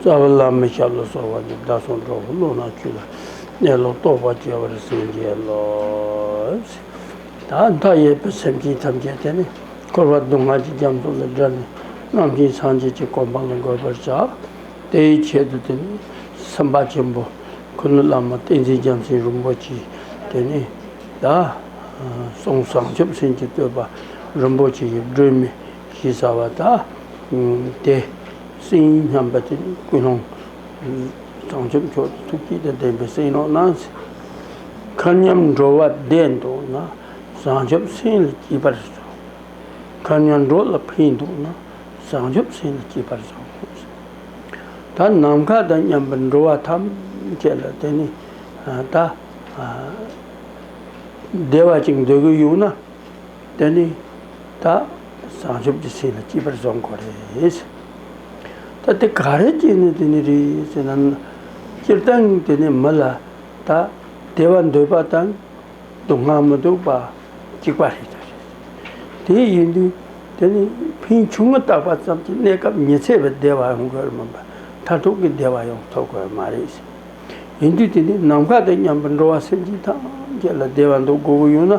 རྩ་བ་བླ་མེད་ཞབས་ལ་སོགས་པ་ནི་བདག་བསྲུང་གྲོགས་པོ་བློ་སྣ་ཆུད་ལ་གནས་ལུགས་རྟོགས་པ་སྐྱེ་བར་སེམས་བསྐྱེད་ལོ། མཐའ་ཡས་པའི་སེམས་ཅན་ཐམས་ཅད་དེ་ནས་འཁོར་བ་སྡུག་བསྔལ་གྱི་རྒྱ་མཚོ་ལས་བསྒྲལ་ནས་རྣམ་བསྒྱིངས་སངས་རྒྱས་ཀྱི་གོ་འཕང་ལ་འགོད་པར་བྱ། དེའི་ཆེད་དུ་དེ་ནི་སེམས་དཔའ་ཆེན་པོ་ཁུ་ནུ་བླ་མ་བསྟན་འཛིན་རྒྱལ་མཚན་རིན་པོ་ཆེའི་དེ་ནས་བཟུང་བྱང་ཆུབ་སེམས་ཀྱི་བསྟོད་པ་རིན་པོ་ཆེ་ཡི་སྒྲོན་མེ། ཞེས་བྱ་བ་དག་སྟེ། སེམས་ཉིད་མཉམ་པ་དེ་ནི་ཀུན་སློང་བྱང་ཆུབ་མཆོག་གི་ཐུགས་དཀྱིལ་དང་ལྡན་པའི་སེམས་ཀློང་ན། མཁའ་མཉམ་འགྲོ་བ་བདེན་འདུག་ན། བྱང་ཆུབ་སེམས་ལ་སྐྱིད་པར་བྱའོ། མཁའ་མཉམ་འགྲོ་ལ་ཕན་འདུག་ན། བྱང་ཆུབ་སེམས་ལ་སྐྱིད་པར་བྱའོ། ད་ནམ་མཁའ་དང་མཉམ་པར་འགྲོ་བ་ཐམས་ཅད་ལ་དེ་ནི་ད་བདེ་བ་ཅིག་འདོད་ཀྱི་ཡོད་ན། དོན་ནི། ད་བྱང་ཆུབ་ཀྱི་སེམས་ལ་སྐྱིད་པར་བཟོ་དགོས་རེད། ད་དེ་ག་རེ་བྱས་ནས་དེ་ནི་རེད་ཅེ་ན། སྤྱིར་བཏང་དེ་ནི་མི་ལ་ད་བདེ་བ་འདོད་པ་དང་སྡུག་བསྔལ་མི་སྡུག་པ་གཅིག་པ་རེད། དེ་ཡིན་དུས་དེ་ནི་ཕན་ཆུང་ངུ་བཏགས་པ་ཙམ་གྱིས་གནས་སྐབས་ཉི་ཚེ་བའི་བདེ་བ་ཡོང་དགོས་མིན་པར་མཐར་ཐུག་གི་བདེ་བ་ཡང་ཐོབ་དགོས་མ་རེད། ཡིན་དུས་དེ་ནི་ནམ་མཁའ་དང་མཉམ་པར་འགྲོ་བ་སེམས་ཅན་ཐམས་ཅད་ལ་བདེ་བ་འདོད་དགོས་པོ་ཡོད་ན།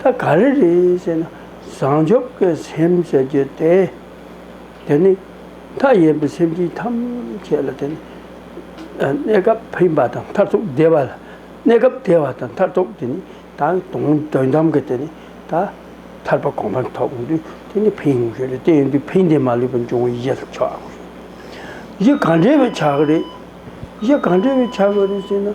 ད་ག་རེ་རེད་ཅེ་ན། བྱང་ཆུབ་ཀྱི་སེམས་ཞེས་བརྗོད་དེ། དེ་ནི་མཐའ་ཡས་པའི་སེམས་ཅན་ཐམས་ཅད་ལ་དེ་ནི་གནས་སྐབས་ཕན་པ་དང་མཐར་ཐུག་བདེ་བ་ལ་གནས་སྐབས་བདེ་བ་དང་མཐར་ཐུག་དེ་ནི་ད་དུང་དོན་དམ་གྱི་དེ་ནི་ད་ཐར་པ་གོང་འཕེལ་ཐོབ་དུས་དེ་ནི་ཕན་ཡོན་ཞིག་རེད་དེ་ཡིན་དུས་ཕན་བདེ་མ་ལུས་པ་འབྱུང་བའི་གཞི་ལ་ཆགས་དགོས། གཞི་གང་འདྲ་བའི་ཆགས་རེད། གཞི་གང་འདྲ་བའི་ཆགས་རེད་ཅེ་ན།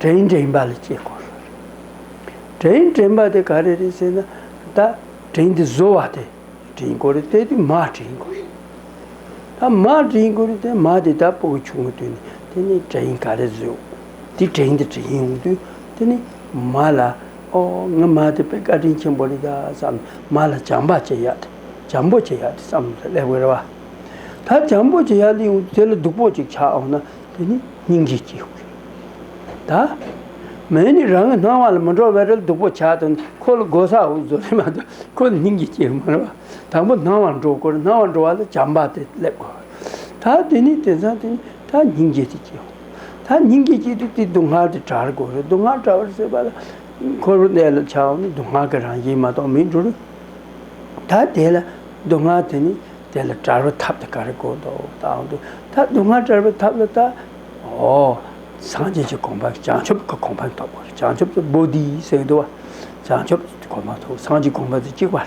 དྲན་དྲན་པ་ལ་སྐྱེས་དགོས་ལ། དྲན་དྲན་པ་དེ་ག་རེ་རེད་ཟེར་ན་ད་དྲན་དེ་བཟོ་བ་དེ་དྲན་དགོས་རེད་དེ་དེ་མ་དྲན་དགོས་རེད། ད་མ་དྲན་དགོས་རེད་དེ་མ་དེ་ད་པོ་གི་ཆུང་ངུ་དུས་ནས་དེ་ནི་དྲན་ག་རེ་བཟོས་དེ་དྲན་དེ་དྲན་ཡོང་དུས་དེ་ནི་མ་ལ་ཨོ་ང་མ་དེ་དཔེ་བཀའ་དྲིན་ཆེན་པོ་རེད་ད་བསམ་ནས་མ་ལ་བྱམས་པ་བྱེད་ཡག་དེ་བྱམས་པོ་བྱེད་ཡག་དེ་བསམ་ནས་སླེབས་དགོས་རེད་བ། ད་འཇམ་པོ་ཅིག་ཡར་ལིའུ་དེ་ལ་སྡུག་པོ་ཅིག་ཆགས་འོང་ན་དེ་ནི་སྙིང་རྗེ་སྐྱེ་དགོས། ད་མེ་ནི་རང་གི་སྣང་བ་ལ་མི་འགྲོ་བས་རལ་སྡུག་པོ་ཆགས་དོན་ཁོ་ལ་དགོས་ས་འོ་བཟོ་རེ་མ་ཏོ་ཁོ་ལ་སྙིང་རྗེ་སྐྱེ་གི་མ་རེད་བ། དང་པོ་སྣང་བ་འགྲོ་དགོས་སྣང་བ་འགྲོ་བ་ལ་བྱམས་པ་དེ་སླེབས་དགོས། ད་དེ་ནི་དེ་ཚང་དེ་ནི་ད་སྙིང་རྗེ་དེ་སྐྱེ་འོང། ད་སྙིང་རྗེ་སྐྱེས་དུས་དེ་སྡུག་བསྔལ་དེ་བྲལ་དགོས་རེད་སྡུག་བསྔལ་བྲལ་བར་སྲིད་པ་ལ་འཁོར་བའི་གནས་ལ་ཆགས་འོང་ན་སྡུག་བསྔལ་གྱི་རང་བཞིན་མ་གཏོགས་མི་འགྲོ་རུ། ད་དེ་ལ། སྡུག་བསྔལ་དེ་ནི་དེ་ལ་བྲལ་བའི་ཐབས་དེ་ག་རེ་གོ་དོ། ད་ཨང་དུ་ད་སྡུག་བསྔལ་བྲལ་བའི་ཐབས་ལ་ད། ཨོ། སངས་རྒྱས་ཀྱི་གོང་འཕང་བྱང་ཆུབ་ཀྱི་གོང་འཕང་ཐོབ། བྱང་ཆུབ་ཏུ་བོ་དྷིའི་སེམས་བསྡུ་བ། བྱང་ཆུབ་ཀྱི་གོང་འཕང་ཐོབ་སངས་ཀྱི་གོང་འཕང་དུ་གཅིག་པ།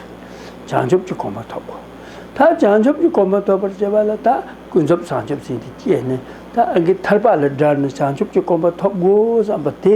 བྱང་ཆུབ་ཀྱི་གོང་འཕང་ཐོབ་བོ། ད་བྱང་ཆུབ་ཀྱི་གོང་འཕང་ཐོབ་པར་བྱེད་པ་ལ་ད་ཀུན་རྫོབ་བྱང་ཆུབ་སེམས་དེ་སྐྱེས་ནས་ད་ཨང་གི་ཐར་པ་ལ་བསྒྲལ་ནས་བྱང་ཆུབ་ཀྱི་གོང་འཕང་ཐོབ་བོ་བསམ་པ་དེ།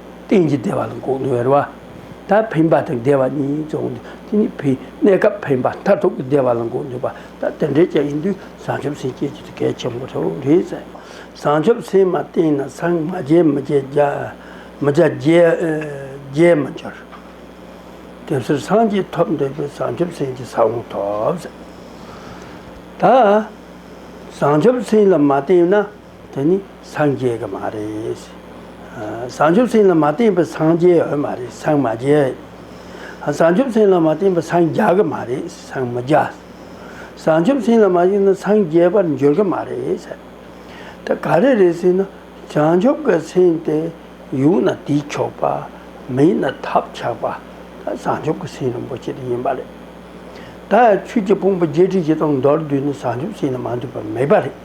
རྟེན་གྱི་བདེ་བ་ལ་འགོག་ནུས་བར་བ། ད་འཕེན་པ་དང་བདེ་བ་གཉིས་རྫོགས་ནས་དེ་ནི་བུའི་གནས་སྐབས་འཕེན་པ་མཐར་ཐུག་གི་བདེ་བ་ལ་འགོག་ནུས་པ། ད་དེ་འདྲའི་ཅན་ཡིན་དུས་བཟང་ཆུབ་སེམས་བསྐྱེད་ཀྱི་ཐུགས་གལ་ཆེན་པོ་ཐོབ་བོ་རེད་ཟེར། བཟང་ཆུབ་སེམས་མ་བརྟན་ན་སངས་མ་རྒྱས་མི་རྒྱས་རྒྱས་མི་འགྱུར། དེ་ཕྱིར་སངས་རྒྱས་ཐོབ་འདོད་པས་བཟང་ཆུབ་སེམས་ཀྱི་ས་བོན་ཐོབ་ཟེར། ད་བཟང་ཆུབ་སེམས་ལ་མ་བརྟེན་ན་དེ་ནི་སངས་རྒྱས་ཀྱི་མ་རེད། བྱང་ཆུབ་སེམས་ལ་མ་བརྟེན་པའི་སངས་རྒྱས་འོས་མ་རེད་སངས་མ་རྒྱས། བྱང་ཆུབ་སེམས་ལ་མ་བརྟེན་པའི་སངས་རྒྱ་གི་མ་རེད་སངས་མི་རྒྱ། བྱང་ཆུབ་སེམས་ལ་མ་བརྟེན་ན་སངས་རྒྱས་པར་འགྱུར་གྱི་མ་རེད། དེ་ག་རེ་རེད་ཟེར་ན་བྱང་ཆུབ་ཀྱི་སེམས་དེ་ཡུག་ན་དུས་ཆོག་པ། མི་ཡུག་ན་ཐབས་ཆག་པ། ད་བྱང་ཆུབ་ཀྱི་སེམས་རིན་པོ་ཆེ་དེ་ཡིན་པ་རེད། ད་ཆོས་ཀྱི་དཔུང་པ་བརྒྱད་ཁྲི་བཞི་སྟོང་མདོར་བསྡུས་ནས་བྱང་ཆུབ་སེམས་ལ་མ་འདུས་པ་མེད་པ་རེད།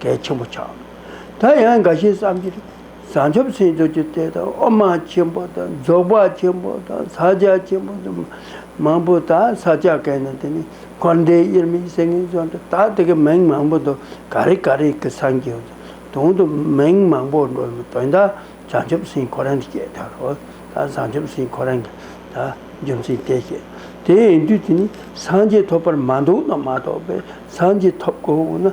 གལ་ཆེན་པོ་ཆགས། ད་ཡང་འགའ་ཞིག་བསམ་གྱིས། བྱང་ཆུབ་སེམས་ཆོས་ཀྱི་གཏེར་དང་དབུ་མ་ཆེན་པོ་དང་རྫོགས་པ་ཆེན་པོ་དང་ས་བཅད་ཆེན་པོ་དུ་མ་པོ་དག་ས་བཅད་གས་ན་དེ་ནི་འཁོར་འདས་དབྱེར་མེད་སེང་གེའི་རྫོང་དུ་དག་དེ་གའི་མིང་མང་པོ་འདུག་ག་རེ་ག་རེ་གི་སངས་རྒྱས་དུང་དུ་མིང་མང་པོ་འགྲོ་བའི་དོན་དག་བྱང་ཆུབ་སེམས་འཁོར་རང་གི་སྐྱེ་ད་རོ། ད་བྱང་ཆུབ་སེམས་འཁོར་རང་གི་ད་རྒྱུ་མཚན་གཏད་བཤད། དེའི་དུས་དེ་ནི་སངས་རྒྱས་ཐོབ་པར་མ་འདུག་ན་མ་ཐོབ་པས་སངས་རྒྱས་ཐོབ་དགོས་འོ་ན།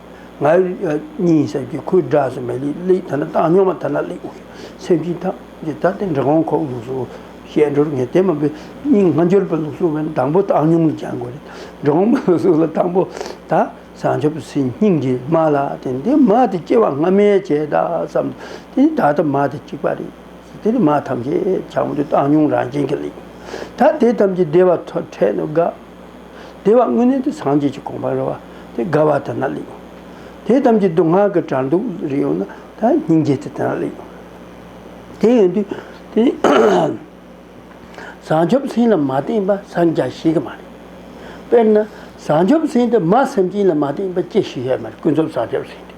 ང་གཉིས་སེམས་ཀྱི་ཁུ་སྒྲ་སུ་མེད་ལི་ལི་ད་ནི་བཏང་སྙོམས་མ་ཐ་ན་ལི་འོ་སེམས་ཅན་ཐམས་ཅད་ད་ལྟའི་འབྲི་གོང་ཁོག་ལུགས་སུ་ཞལ་འགྲོར་ངེས་བསྟན་མ་བུ་སྙིང་སྔ་འགྱུར་པའི་ལུགས་སུ་བན་དང་པོ་བཏང་སྙོམས་ལ་སྦྱང་དགོས་རེད། འབྲི་གོང་མ་ལུགས་སུ་ལ་དང་པོ་ད་བཟང་ཆ་བུ་སེམས་སྙིང་རྗེ་མ་ལ་བརྟེན་ཏེ་མ་དེ་སྐྱེ་བ་སྔ་མའི་བྱས་རྟགས་སམ་དེ་ནི་ད་ལྟ་མ་དེ་གཅིག་པ་རེད། དེ་ནི་མ་ཐམས་ཅད་བྱང་བུ་དེ་བཏང་སྙོམས་རང་བྱིན་གྱིས་ལེགས། ད་དེ་ཐམས་ཅད་བདེ་བ་འཕྲལ་དུ་དགའ། བདེ་བ་དངོས་གནས་དེ་སངས་རྒྱས་ཀྱི་དགོངས་པར་རོལ་བ་དེ་དགའ་བ་དེ་ན་ལེགས། དེ་ཐམས་ཅད་དུག་ལྔ་གི་དགྲར་འདུག་རིགས་ཡོད་ན་ད་སྙིང་རྗེ་དེ་དེ་ན་ལེགས། དེ་ཡོད་དུས་དེ་བཟང་ཆོབ་སེམས་ལ་མ་བརྟེན་པ་སངས་རྒྱ་ཞིག་གི་མ་རེད། དཔེར་ན། བཟང་ཆོབ་སེམས་དེ་མ་སེམས་ཅན་ལ་མ་བརྟེན་པ་ཅི་ཞིག་ཡོད་མེད་ཀུན་རྫོབ་བཟང་ཆོབ་སེམས་དེ།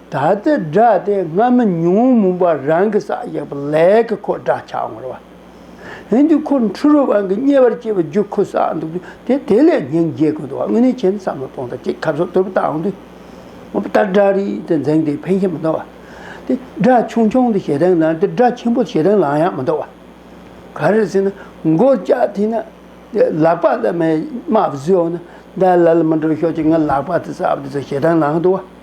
ད་ལྟའི་སྒྲ་དེ་སྔ་མོ་ཉོན་མོངས་པ་རང་གིས་བསགས་ཡོད་པ་ལས་ཀྱི་ཁོ་སྒྲ་ཆགས་ངོར་བ། ཡིན་དུས་ཁོ་འཁྲུལ་བའི་དབང་གིས་ཉེ་བར་སྐྱེས་པའི་རྒྱུ་ཁོ་བསགས་འདུག་དུས་དེ་དེ་ལས་ཉིན་བརྒྱའི་དགོས་འདུག་བ་དངོས་གནས་ཁྱེད་བསམ་བློ་གཏོང་ད་ཅིག་ཁབ་ཟོག་དུར་བུ་བཏང་དུས། ངོ་བལྟ་སྒྲ་རིག་དེ་འཛིང་དེ་ཕན་ཞིག་མི་འདུག་བ། དེ་སྒྲ་ཆུང་ཆུང་དེ་ཞེ་སྡང་ལངས་དེ་སྒྲ་ཆེན་པོ་ཞེ་སྡང་ལངས་ཡག་མི་འདུག་བ། ག་རེ་ཟེར་ན་མགོ་ལྕགས་མཐིལ་ན་དེ་ལག་པ་ལ་མེ་དམར་བཟོས་འོང་ན་ད་ལ་ལ་མི་འགྲོ་ཤོག་ཅིག་ང་ལག་པ་དེ་བསགས་པ་དེ་ཚོ་ཞེ་སྡང་ལངས་འདུག་བ།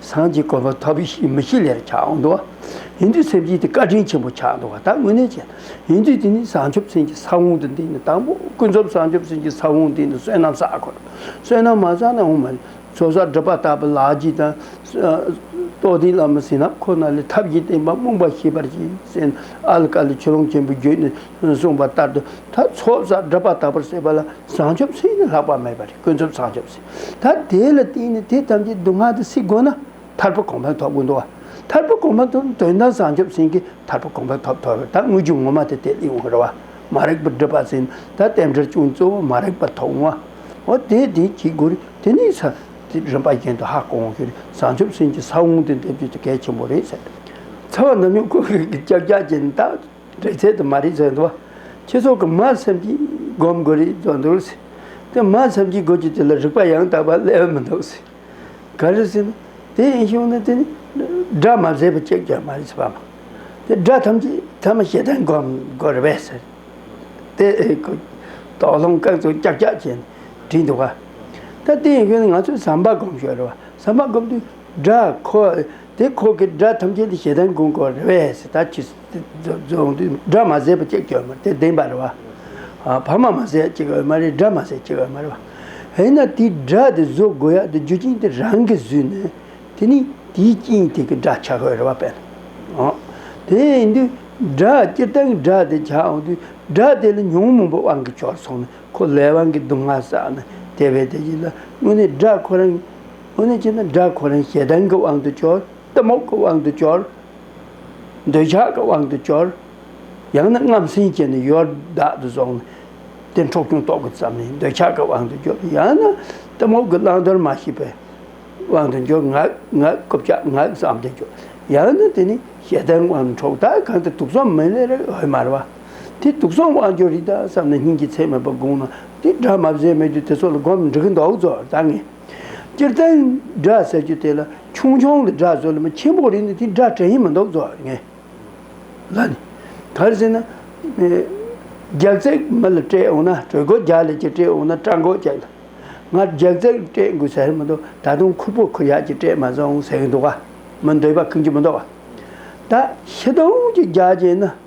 སངས་རྒྱས་དཀོན་པོ་ཐོབ་ཤིག་མི་ཤིག་ལེར་ཆགས་འོང་འདུག་ཡིན་དུས་སེམས་ཅན་དེ་བཀའ་དྲིན་ཆེན་པོ་ཆགས་འདུག་ད་དངོས་གནས་བྱས་ཡིན་དུས་དེ་ནི་བྱང་ཆུབ་སེམས་ཀྱི་ས་བོན་དུ་འདི་ནི་དང་པོ་ཀུན་རྫོབ་བྱང་ཆུབ་སེམས་ཀྱི་ས་བོན་འདི་ནི་བསོད་ནམས་བསགས་དགོས། བསོད་ནམས་མ་བསགས་ན་འོང་མ་ནི། ཚོགས་བསགས་སྒྲུབ་པ་ལྟ་བུ་ལག་གཅིག་དང། རྟོགས་ལྡན་བླ་མ་ཟིན་རྣམས་ཁོ་ན་ལས་ཐབས་ཀྱིས་བསྟན་པ་རྨོངས་པ་ཞི་བར་གྱིས་སེ་ན་ཨཱ་ལི་ཀཱ་ལི་ཆུ་ཀླུང་ཆེན་པོའི་རྒྱུད་ནས་གསུངས་པ་ལྟར་དུ་ད་ཚོགས་བསགས་སྒྲུབ་པ་ལྟ་བུར་བྱེད་པ་ལ་བྱང་ཆུབ་སེམས་ནི་ལྷག་པ་མེད་པ་རེད་ཀུན་རྫོབ་བྱང་ཆུབ་སེམས། ད་དེ་ལ་བརྟེན་ནས་དེ་ཐམས་ཅད་སྡུག་བསྔལ་དུ་སྲིད་དགོས་ན་ཐར་པ་གོང་འཕེལ་ཐོབ་དགོས་འདུག་བ། ཐར་པ་གོང་འཕེལ་ཐོབ་ན་དོན་དམ་བྱང་ཆུབ་སེམས་ཀྱི་ཐར་པ་གོང་འཕེལ་ཐོབ་ཐོབ་བས་ད་དངོས་བརྒྱུད་ངོ་མ་དེ་དེ་ལས་འོངས་རེད་བ། མ་རེག་པར་སྒྲུབ་པ་ཟིན་ད་རྟེན་འབྲེལ་ཅུང་གཙོ་བོ་མ་རེག་པ་ཐོབ་འོང་བ། འོ་དེ་དེ་གྱིས་དགོས་རེད་དེ་ནས་ས་དེ་རིམ་པ་གཞན་དུ་ཧ་གོ་འོང་ཤེས་རེད་བྱང་ཆུབ་སེམས་ཀྱི་ས་བོང་དེ་འདེབས་རྒྱུ་དེ་གལ་ཆེན་པོ་རེད་ཟེར། ཚ་བ་ནམ་ཡང་ཁོ་གིས་ཀྱག་ཀྱག་བྱས་ནས་ད། རིག་ཚད་དང་མ་རིག་ཚད་འདུ་བ། ཁྱེད་ཚོ་གི་མར་སེམས་ཀྱིས་སྒོམ་དགོས་རིགས་བརྫོ་འདུག་ཟེར། དེ་མར་སེམས་ཀྱིས་སྒོ་ཀྱི་དེ་ལ་རིག་པ་ཡང་དག་པ་སླེ་འོས་མི་འདུག་ཟེར། ག་རེ་ཟེར་ན། དེ་ཡིན་ཞུགས་ན་དེ་ནི་སྒྲ་མ་ཟེར་བ་གཅིག་ཀྱང་མ་རེད་ཟེར་བ། དེ་སྒྲ་ཐམས་ཅད་ཐ་མ་ཤེས་ལྡན་སྒོམ་དགོས་རེད་བས་ཟེར། དེ་དོགས་སློང་སྐག་རྫུན་ཀྱག་ཀྱག་བྱས་ནས་བྲིས་འདུག་བ། ད་དེ་ཡིན་ཞུགས་ན་ང་ཚོས་ཟམ་པ་སྒོམ་ཞོར་རེད་བ། ཟམ་པ་སྒོམ་དུས་སྒྲ་ཁོ། དེ་ཁོག་གི་སྒྲ་ཐམས་ཅད་དེ་ཞེ་སྡང་གོང་གོ་རེ་བས་སི་ད་ཅི་རྫོང་དུ་སྒྲ་མ་ཟད་པ་ཅིག་སྐྱོ་མ་དེ་བདེན་པ་རེ་བ། བར་མ་མ་ཟད་ཅིག་འོད་མ་རེ་སྒྲ་མ་ཟད་ཅིག་འོད་མ་རེ་བ། དེས་ན་དེའི་སྒྲ་དེ་བཟོ་དགོས་ཡ་དེ་རྒྱུ་རྐྱེན་དེ་རང་གིས་བཟོས་ནས་དེ་ནི་དེའི་རྐྱེན་དེ་གི་སྒྲ་བྱ་དགོས་རེ་བ་བས་ན། དེ་ཡིན་དུས་སྒྲ་སྤྱིར་བཏང་གི་སྒྲ་དེ་བྱ་འོང་དུས་སྒྲ་དེ་ལ་ཉོན་མོངས་པའི་དབང་གིས་བྱོལ་སོང་ནས་ཁོ་ལས་དབང་གིས་སྡུག་བསྔལ་བསགས་ནས་དེ་བས་དེ་བཞིན་ལ་དངོས་གནས་སྒྲ་ཁོ་རང་དངོས་གནས་བྱས་ན་དགྲ་ཁོ་རང་ཞེ་སྡང་གི་དབང་དུ་སྐྱོར། གཏི་མུག་གི་དབང་དུ་སྐྱོར། འདོད་ཆགས་ཀྱི་དབང་དུ་སྐྱོར། ཡང་ན་རྔམ་ཟིང་བྱས་ནས་ཡོར་བདག་ཏུ་བཟུང་ནས། དེ་འཕྲོག་ཅུང་ལྟོགས་དགོས་ཙམ་ནས་འདོད་ཆགས་ཀྱི་དབང་དུ་སྐྱོར། ཡང་ན་གཏི་མུག་གི་བླང་དོར་མ་ཤེས་པའི་དབང་དུ་སྐྱོར། ངག་ངག་རྐུབ་ལྕག་ངག་བསམ་གཏན་སྐྱོར། ཡང་ན་དེ་ནི་ཞེ་སྡང་གི་དབང་དུ་འཕྲོག། ད་གང་དུ་དུག་གསུམ་མི་ལས་རིགས་འོད་དམར་བ། དེ་དུག་གསུམ་དབང་སྐྱོར་རིགས་དང་བསམ་ན་སྙིང་རྗེ་ཚད་མེད་པ་དགོངས་ན། དེ་དགྲ་མ་བཟོད་མེད་དུ་དེ་ཚོ་ལ་སྒོམ་འགྲིག་མདོག་རྫོགས་ད་ངེས། སྤྱིར་བསྟན་སྒྲ་ཟེར་རྒྱུ་དེ་ལ་ཆུང་ཆུང་གི་སྒྲ་བཟོ་ལ་མི་ཆེན་པོ་རིག་ནས་དེ་སྒྲ་དྲན་ཡིན་མི་འདུག་བཟོ་ངེས། ལ་ནི། གར་ཟེར་ན། རྒྱག་རྩེག་མི་ལ་སྤྲད་འོང་ན་གྲོད་སྒོ་རྒྱག་ལས་ཀྱིས་སྤྲད་འོང་ན་སྐྲ་མགོ་རྒྱག། ང་རྒྱག་རྩེག་སྤྲད་དགོས་ཟེར་མི་འདུག་ད་དུང་ཁུར་པོ་ཁུར་ཡག་ཅིག་སྤྲད་མ་སོང་ཟེར་གྱི་འདུག་བ། མི་འདོད་པ་ཁུར་གྱི་མི་འདུག་བ། ད་ཤི་དོང་གཅིག་རྒྱག་བྱས་ན།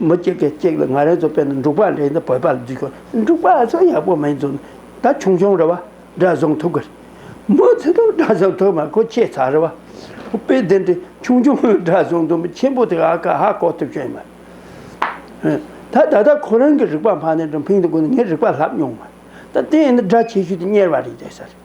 མི་གཅིག་གིས་གཅིག་ལ་ང་རང་ཚོ་དཔོན་ནི་འབྲུག་པ་རེད་འདི་བོད་པ་ལ་འཇུས་ཆོག་འབྲུག་པ་ཚོ་ཡག་པོ་མིན་ཚོ་ད་ཆུང་ཆུང་རེད་བ་སྒྲ་བཟང་ཐུག་གི་རེད་མོ་ཚོ་དང་སྒྲ་བཟང་ཐུག་མ་ཁོ་ཁྱད་མཚར་རེད་བ་དཔེ་དེ་འདྲའི་ཆུང་ཆུང་སྒྲ་བཟང་དུ་མི་ཆེན་པོ་དེ་ཨ་ཁ་ཧ་གོ་ཐུབ་ཀྱི་མེད་ད་ད་ལྟ་ཁོ་རང་གི་རིག་པ་འཕར་ནས་འགྲོ་ཕིང་དུ་གོ་ནས་ངའི་རིག་པ་ལྷག་མྱོང་མ་ད་དེ་ཡིན་ན་སྒྲ་ཆེ་ཤོས་དེ་གཉེར་བ་རེད་བསྡད་ས་རེད།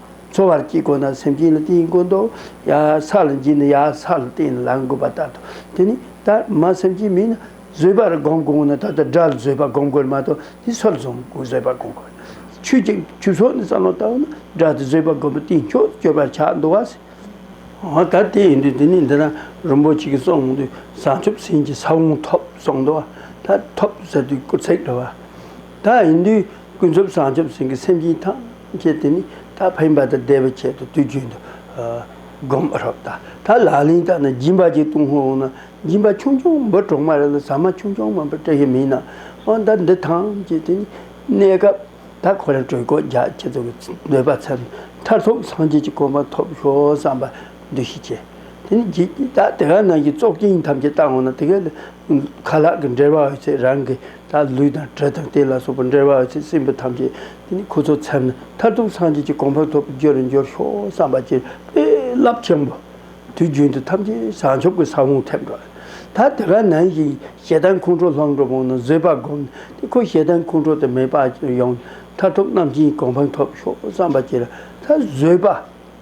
འཚོ་བར་སྐྱིད་དགོས་ན་སེམས་ཅན་ལ་བརྟེན་དགོས་འདོ། ཡ་ས་ལ་འགྱིང་ན་ཡ་ས་ལ་བརྟེན་ནས་ལངས་དགོས་པ་ལྟར་དུ། དེ་ནི་ད་མ་སེམས་ཅན་མིན་ན་བཟོད་པར་བསྒོམ་དགོས་ན་ད་ལྟ་དགྲ་ལ་བཟོད་པ་བསྒོམ་དགོས་མ་གཏོགས་དེ་སྲོག་བཟོད་པ་བསྒོམ་དགོས། ཆོས་ཀྱི་ཆོས་ཚོགས་ནི་རྩ་སློང་ལྟ་བུ་ན་དགྲ་ལྟ་བཟོད་པ་བསྒོམ་པའི་སྟེང་ཕྱོགས་སྐྱོད་པར་བྱ་འདོ་བ། འོ་ད་དེ་ཡིན་དུས་དེ་ནས་འདི་ན་རིན་པོ་ཆེ་གི་གསུང་འོང་དུས་བྱང་ཆུབ་སེམས་ཀྱི་ས་བོན་ཐོབ་གསུང་འདོ་བ། ད་ཐོབ་ཟེར་དུས་སྐུ་ཚེགས་འགྲོ་བ། ད་ཡིན་དུས་ཀུན་རྫོབ་བྱང་ཆུབ་སེམས་ཀྱི་སེམས་ཅན་དང། ཅེས་དེ་ནི་ད་ཕན་པ་དང་བདེ་བའི་ཆེད་དུ་དུས་རྒྱུན་དུ་བསྒོམ་པར་རོགས་ལྟ་ད་ལ་ལིང་ལྟ་ན་སྦྱིན་པ་གཅིག་ལྟུང་ཧོན་འོང་ན་སྦྱིན་པ་ཆུང་ཆུང་འབུ་གྲོག་མ་རེ་ལ་ཟ་མ་ཆུང་ཆུང་མ་འབུ་སྐྲ་ཤད་མིན་ན་འོང་ད་འདི་ཐང་ཅེས་དེ་ནི་གནས་སྐབས་ད་ཁོ་རང་གྲོད་ཁོག་རྒྱ་ཆེ་ཚོ་གི་འདོད་པ་ཚད་མཐར་ཐུག་སངས་རྒྱས་ཀྱི་གོ་འཕང་ཐོབ་ཤོག་བསམ་པ་འདུས་ཤིག་ཅེས་དེ་ནི་བགྱིད་ད་དེ་ག་ནང་གི་བཙོག་སྐྱིན་ཐམས་ཅད་བཏང་འོང་ན་དེ་ག་ལ་ཁ་ལག་གི་འབྲེལ་བ་ཡོད་ཚད་རང་གི། ད་ལུས་དང་དྲོད་དང་རྟེན་ལ་སོགས་པ་འབྲེལ་བ་བ་ཅན་སྲིན་བུ་ཐམས་ཅད་དེ་ནི་ཁུ་ཚུར་འཚེམ་ན་མཐར་ཐུག་སངས་རྒྱས་ཀྱི་གོ་འཕང་ཐོབ་པའི་རྒྱུ་རུ་འགྱུར་ཤོག་བསམ་པ་ཅན་དཔེ་རླབས་ཆེན་པོ། དུས་རྒྱུན་དུ་ཐམས་ཅད་བྱང་ཆུབ་ཀྱི་ས་བོན་ཐེབས་འགྲོ། ད་དེ་ག་ནང་བཞིན་ཞེ་སྡང་ཁོང་ཁྲོ་ལྷག་འགྲོ་པོ་ནི་བཟོད་པ་བསྒོམ་ནས་དེ་ཁོ་ཞེ་སྡང་ཁོང་ཁྲོ་དེ་མེད་པ་ཅན་ཡོང་ནས་མཐར་ཐུག་རྣམ་མཁྱེན་གྱི་གོ་འཕང་ཐོབ་ཤོག་བསམ་པ་ཅན་ད་བཟོད་པ་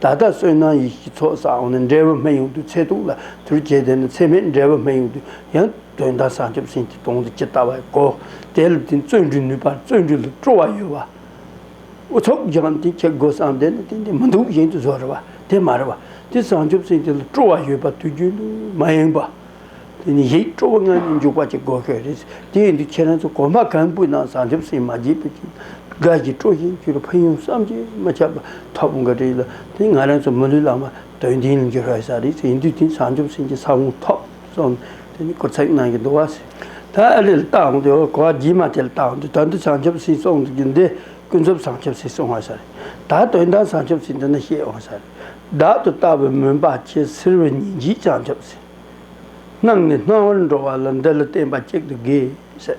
ད་ལྟ་བསོད་ནམས་ཡིད་ཀྱི་ཚོགས་བསགས་འོ་ན་འབྲས་བུ་སྨན་ཡོངས་འདུས་ཚེ་ཐུང་ལ་དུར་བྱས་དེ་ནི་ཚེ་སྨད་འབྲས་བུ་སྨན་ཡོངས་འདུས་ཡང་དོན་དམ་བྱང་ཆུབ་སེམས་ཀྱི་དོང་དུ་ཇི་ལྟ་བ་བའི་སྒོ་དེ་ལ་བརྟེན་བརྩོན་འགྲུས་ནུས་པར་བརྩོན་འགྲུས་ལ་སྤྲོ་བ་ཡོད་བ། ཚོགས་སྦྱངས་དེ་ཁྱེད་སྒོ་སྲང་དེ་ནི་དེ་འདི་མི་འདུག་གཞན་དུ་བཟོ་རེ་བ་དེ་མ་རེ་བ། དེ་བྱང་ཆུབ་སེམས་ཀྱི་ལ་སྤྲོ་བ་ཡོད་པ་དུས་རྒྱུན་དུ་མ་ཡེངས་པ། དེ་ནི་ཡིད་སྤྲོ་བ་ལྔ་ནི་འཇུག་པ་གཅིག་གོ་ཤོད་རེད། དེ་ཡིན་དུས་ཁྱེད་རང་ཚོ་གོ་མ་གང་པོས་ནང་བཟང་ཆབ་སྲིད་མ་བརྗེད་པའི་ཆེད་དགའ་བཞིན་སྤྲོ་བཞིན་བཅུ་རུ་ཕན་ཡོང་བསམ་གྱིས་མི་ཁྱབ་པ་ཐོབ་འགོ་བྲིས་ལ་དེ་ང་རང་ཚོ་མི་ལུས་ལ་མ་དོན་ལྡན་ལུས་འགྱུར་བའི་ས་རེད་ཟེར་ཡིན་དུས་དེ་བཟང་ཆབ་སྲིད་ཀྱི་ས་བོན་ཐོབ་སོང་དེ་ནི་སྐུ་ཚབ་ནང་གི་འདུ་བ་ཟེར། ད་ལེ་ལ་ལྟ་འོང་དུས་གོ་བ་རྗེས་མ་དེ་ལ་ལྟ་འོང་དུས་ད་འདི་བཟང་ཆབ་སྲིད་སོང་གི་འདི་ཀུན་རྫོབ་བཟང་ཆབ་སྲིད་སོང་བ་ས་རེད། ད་དོན་དག་བཟང་ཆབ་སྲིད་འདི་ནི་ཤེས་འོང་ས་རེད། བདག་ཏུ་ལྟ་བའི་མུན་པ་ཁྱེད་སེལ་བའི་ཉིན་བྱེད་བྱང་ཆབ་སྲིད། སྣང་ནི་སྣང་བར་འགྲོ་བ་ལ་འདི་ལ་བརྟེན་པ་གཅིག་ཏུ་དགོས།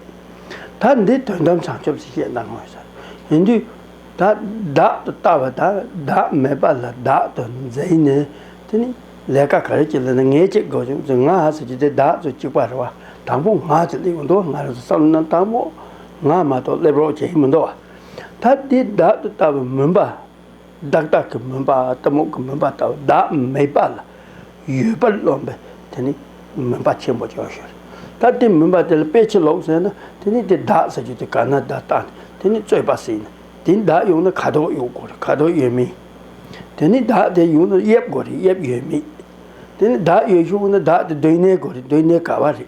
ད་འདི་དོན་དམ་བྱང་ཆུབ་སེམས་བསྐྱེད་གནང་ངོ། ཡིན་དུས་ད་བདག་ཏུ་ལྟ་བ་དང་བདག་མེད་པ་ལ་བདག་ཏུ་འཛིན་ནས་དེ་ནི་ལས་ཀ་ག་རེ་བྱེད་ལ་ནི་ངས་ཅི་དགོས་བྱུང་ཚུལ་ང་ཟེར་གྱི་དེ་བདག་ཏུ་གཅིག་པར་བ་དང་པོ་ང་ཅི་ལས་འདོད་ང་རང་བསམ་ན་དང་པོ་ང་མ་གཏོགས་སླེབས་རོགས་བྱེད་མི་འདོད་བ། ད་འདི་བདག་ཏུ་ལྟ་བའི་མུན་པ། བདག་བདག་གི་མུན་པ་གཏི་མུག་གི་མུན་པ་ལྟ་བུ་བདག་མེད་པ་ལ་ཡོད་པར་རློམ་པས་དེ་ནི་མུན་པ་ཆེན་པོ་ཅན་ཞེས་ཟེར། ད་དེ་མུན་པ་དེ་ལ་དཔེ་ཕྱིར་ལོག་ཟེར་ན་དེ་ནི་དེ་བདག་ཟེར་རྒྱུ་དེ་ག་ན་བདག་བཏགས་ནས་དེ་ནི་རྩོད་པ་ཟིན་ནས་དེ་ནི་བདག་ཡོང་ན་ཁ་དོག་ཡོད་དགོས་རེད་ཁ་དོག་ཡོད་མིན། དེ་ནི་བདག་དེ་ཡོང་ན་དབྱིབས་དགོས་རེད་དབྱིབས་ཡོད་མིན། དེ་ནི་བདག་ཡོད་ཤུགས་ན་བདག་དེ་སྡོད་གནས་དགོས་རེད་སྡོད་གནས་ག་བ་རེད།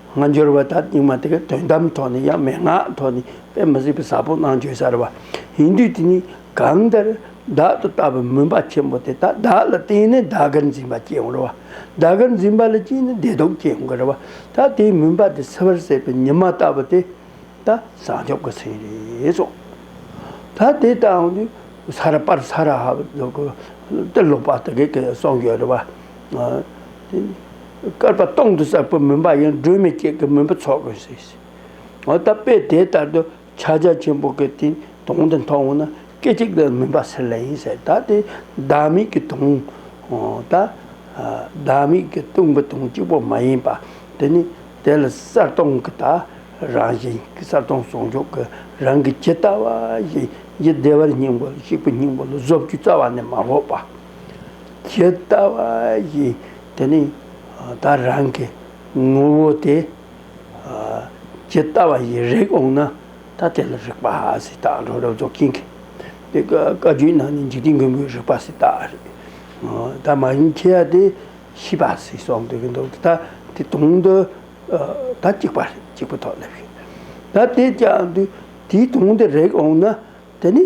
སྔ་འགྱུར་བ་དག་རྙིང་མ་དེ་གའི་དོན་དམ་ཐོག་ནས་ཡང་མན་ངག་ཐོག་ནས་དཔེ་མི་སྲིད་པའི་ཟབ་པོ་སྣང་བྱོས་གསར་བ་ཡིན་དུས་དེ་ནི་གང་ལྟར་བདག་ཏུ་ལྟ་བའི་མུན་པ་ཆེན་པོ་དེ་དག་བདག་ལ་བརྟེན་ནས་བདག་གིར་འཛིན་པ་སྐྱེ་འགོ་རུ་བ། བདག་གིར་འཛིན་པ་ལ་སྐྱེས་ནས་བདེ་སྡུག་སྐྱེ་འགོ་རུ་བ་ད་དེའི་མུན་པ་དེ་སེལ་བར་ཟད་པའི་ཉི་མ་ལྟ་བུ་དེ་ད་བཟང་ཕྱོགས་ཀྱི་ཚིག་རེད་སོ། ད་དེ་ལྟ་བུ་ནི་ས་ར་པར་ས་ར་ཧ་བ་ལུག་གི་ཏི་ལོག་པ་དེ་གའི་གསོག་འཇོག་རུ་བ། བསྐལ་པ་སྟོང་དུ་བསགས་པའི་མུན་པ་ཡང་སྒྲོན་མེ་བསྐྱེད་ཀྱི་མུན་པ་ཚོགས་དགོས་ཟེར་ཞིང། ད་དཔེ་དེ་ལྟར་དུ་ཕྱག་རྒྱ་ཆེན་པོ་གི་སྟེང་དོང་དེ་མཐོང་བ་ན་སྐད་ཅིག་ལ་མུན་པ་སེལ་ལེ་ཡིན་ཟེར་ད་དེ་བདག་མེད་ཀྱི་དོང། ད་བདག་མེད་ཀྱི་སྟོང་པའི་དོང་གཅིག་པོ་མ་ཡིན་པ་དེ་ནི་དེ་ལ་གསར་སྟོང་གི་དག་རང་བཞིན་གསར་སྟོང་ཟུང་འཇུག་གི་རང་གི་ཇི་ལྟ་བ་བཞིན་གྱི་བདེ་བར་སྙིང་པོ་གཤེགས་པའི་སྙིང་པོ་ལ་བཟོ་བཅུད་རྩ་བ་ནས་མ་ལོག་པ། ཇི་ལྟ་བ་བཞིན་དེ་ནི་བདག་རང་གི་ངོ་བོ་སྟེ། ཇི་ལྟ་བ་བཞིན་རེག་འོང་ན་ཐ་དད་ལ་རེག་པ་སྲིད་དང་གྲོགས་རབ་རྫོགས་སྐྱེ་འགལ། དེ་ཀ་རྒྱུད་ན་ནི་འཇིག་རྟེན་མགོན་པོའི་རིག་པ་སྲིད་དང་རེག་བདག་མ་ཡིན་ཁྱེད་ཡ་དེ་ཤི་བ་སྲིད་སོགས་འདོད་ཀྱི་འདུག་དེ་དག་དེ་དུང་དུ་ད་གཅིག་པ་རེད་གཅིག་པུ་ཐོག་སླེབས་ཤིང། ད་དེས་ཀྱང་དུས་དེའི་དུང་དུ་རེག་འོང་ན་དེ་ནི།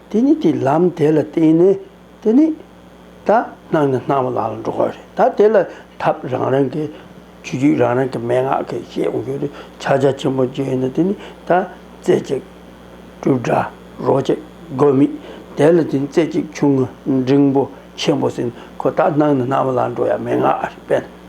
དེ་ནི་དེ་ལམ་དེ་ལ་བརྟེན་ནས་དེ་ནི་ད་སྣང་ནས་སྣང་བ་ལ་ལ་འགྲོ་བ་རེད་ད་དེ་ལ་ཐབས་རང་རང་གི་ཆོས་རྒྱུད་རང་རང་གི་མན་ངག་གིས་ཤེས་ཨོ་རྒྱུ་རུ་ཕྱག་རྒྱ་ཆེན་པོ་བརྗོད་ཡོད་ན་དེ་ནི་ད་རྩེ་གཅིག་སྤྲུལ་སྒྲ་རོ་གཅིག་དགོས་མེད་དེ་ལ་དེ་ནི་རྩེ་གཅིག་ཆུང་ངུ་འབྲིང་པོ་ཆེན་པོ་ཟིན་ཁོ་ད་སྣང་ནས་སྣང་བ་ལ་ལ་འགྲོ་ཡ་མན་ངག་རེད་དཔེར་ན།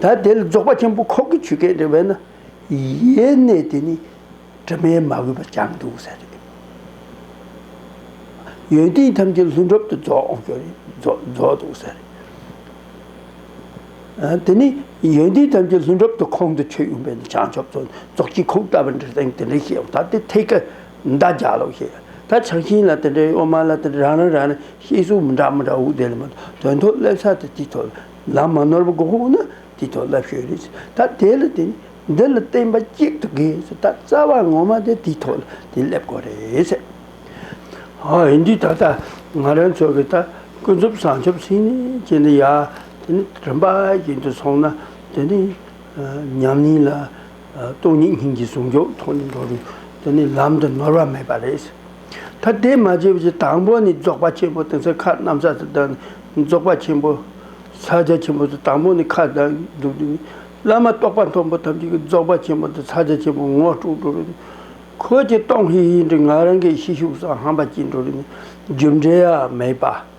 ད་དེ་ལ་རྫོགས་པ་ཆེན་པོ་ཁོག་གི་ཆུ་སྐད་འདྲ་བས་ན། ཡེ་ནས་དེ་ནི་དྲི་མས་མ་གོས་པ་ཅང་འདུག་བསལ་རེད། ཡོན་ཏན་ཐམས་ཅད་ལྷུན་གྲུབ་ཏུ་རྫོགས་འགྱུར་རྫོགས་འདུག་བསལ་རེད། དེ་ནི་ཡོན་ཏན་ཐམས་ཅད་ལྷུན་གྲུབ་ཏུ་ཁོང་དུ་ཆུད་ཡོང་བས་ན་བྱང་ཆུབ་སོགས་རྫོགས་ཀྱི་ཁོག་ལྟ་བུ་འདྲ་སྟེ་འདི་འདྲ་ཞེས་ད་དེ་ཐད་ཀར། མདའ་རྒྱག་ལོ་ཞེས་ད་ཆ་ཤིང་ལ་དེ་འདྲའི་གཡོག་མ་ལ་དེ་རང་རང་རང་ནས་ཤེས་གསུང་མི་འདྲ་མི་འདྲ་འུག་དེ་ལ་མ་གཏོགས་དོན་ཐོག་སླེབས་ས་དེ་དེའི་ཐོག་ལམ་མ་ནོར་བ་དགོས་ཁོ་ན་དེའི་ཐོག་སླེབས་ཤོས་རེད་ཟེར་ད་དེ་ལ་དེ་འདི་ལ་བསྟན་པ་གཅིག་ཏུ་དགོས་ཟེར་ད་རྩ་བ་ངོ་མ་དེ་དེའི་ཐོག་ལ་དེ་སླེབས་དགོས་རེད་ཟེར། ཧོ་ཡིན་དུས་ད་ལྟ་ང་རང་ཚོ་གི་ད་ཀུན་རྫོབ་བྱང་ཆུབ་སེམས་ཅན་འདི་ཡང་དེ་ནི་རིམ་པ་བཞིན་དུ་སོང་ན་དེ་ནི་ཉམས་ཉེས་ལ། སྟོང་ཉིད་སྙིང་རྗེ་ཟུང་འཇུག་ཐོག་ནས་འགྲོ་རུང་དེ་ནི་ལམ་དུ་ནོར་བ་མེད་པ་རེད། ད་དེ་མ་བྱས་པའི་དང་པོ་ནི་རྫོགས་པ་ཆེན་པོ་དེང་སང་ཁ་གནམ་ས་དང་བདག་ནི་རྫོགས་པ་ཆེན་པོ། ས་བརྒྱ་ཆེན་པོ་དང་དང་པོ་ནི་ཁ་བདག་གི་སྒྲུབ་བདེ་ནི། བླ་མ་རྟོགས་པ་མཐོན་པོ་ཐམས་ཅད་ཀྱི་རྫོགས་པ་ཆེན་པོ་དང་ས་བརྒྱ་ཆེན་པོ་ངོ་སྤྲོད་འགྲོ་རུང། ཁོ་ཀྱེ་སྟོང་ཧེ་ཧེ་འདི་ང་རང་གི་ཤེས་ཤུགས་སམ་ཧམ་པ་སྐྱེས་འགྲོ་རུང་ནི་རྒྱུ་འབྲས་མེད་པ།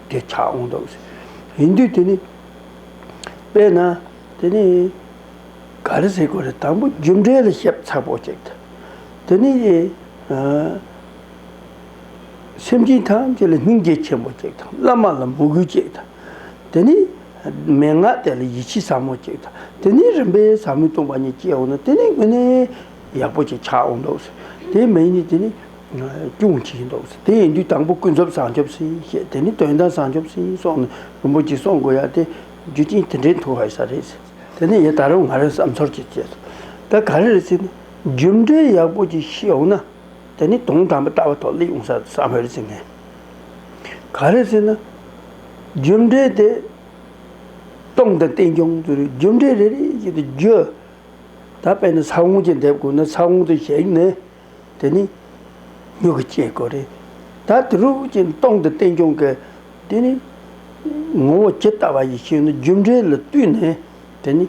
དེ་ཆགས་འོང་དོགས་ཟེར། ཡིན་དུས་དེ་ནི། དཔེར་ན། དེ་ནི། ག་རེ་ཟེར་དགོས་རེད་དང་པོ་རྒྱུ་འབྲས་ལ་ཞིབ་ཚགས་པོ་བྱེད་དགོས། དེ་ནི། སེམས་ཅན་ཐམས་ཅད་ལ་སྙིང་རྗེ་ཆེན་པོ་བྱེད་དང་བླ་མ་ལ་མོས་གུས་བྱེད་དང། དེ་ནི། མན་ངག་དེ་ལ་ཡིད་ཆེས་ཟབ་མོ་བྱེད་དང། དེ་ནི་རིམ་པས་ཟབ་མོའི་སྟོང་པ་ཉིད་སྐྱེ་འོང་ན་དེ་ནི་དངོས་གནས་ཡག་པོ་ཞིག་ཆགས་འོང་དོགས་ཟེར། དེ་མ་ཡིན་ནི་དེ་ནི། སྐྱོང་བྱེད་ཀྱིན་འདུག་ཟེར་དེ་ཡིན་དུས་དང་པོ་ཀུན་རྫོབ་བཟང་སྐྱོབ་སེམས་བསྐྱེད་དེ་ནི་དོན་དམ་བཟང་སྐྱོབ་སེམས་གསོ་ནི་རིན་པོ་ཆེ་གསོ་དགོས་ཡ་དེ་རྒྱུ་རྐྱེན་དེ་འདྲའི་མཐུ་བ་ཡོད་ས་རེད་ཟེར་དེ་ནི་ཡེ་ད་རུང་ང་རང་བསམ་ཚོར་གྱི་བཅས་སོ་ད་ག་རེ་རེད་ཟེར་ནས་རྒྱུ་འབྲས་ཡག་པོ་ཅིག་ཤེས་འོང་ན་དེ་ནི་དོན་དམ་པའི་ལྟ་བ་ཐོག་སླེབས་འོང་ས་བསམ་བོད་རེད་ཟེར་ངས་ག་རེ་ཟེར་ན། རྒྱུ་འབྲས་དེ་སྟོང་དང་བསྟན་སྐྱོང་རྒྱུ་རེད་རྒྱུ་འབྲས་རེ་རེ་བཞིན་དུ་རྒྱུ། ད་དཔེ་ན་ས་བོན་གྱིས་འདེབས་དགོས་ན་ས་བོན་དུ་བྱས་ནས། དེ་ནི་མྱུ་གུ་སྐྱེ་དགོས་རེད། ད་དེ་རུ་ཅན་སྟོང་དུ་བསྟན་སྐྱོང་གི། དེ་ནི་ངོ་བོ་ཇི་ལྟ་བ་ཡི་ཕྱིར་ནི་རྒྱུ་འབྲས་ལ་བསྟུན་ནས་དེ་ནི་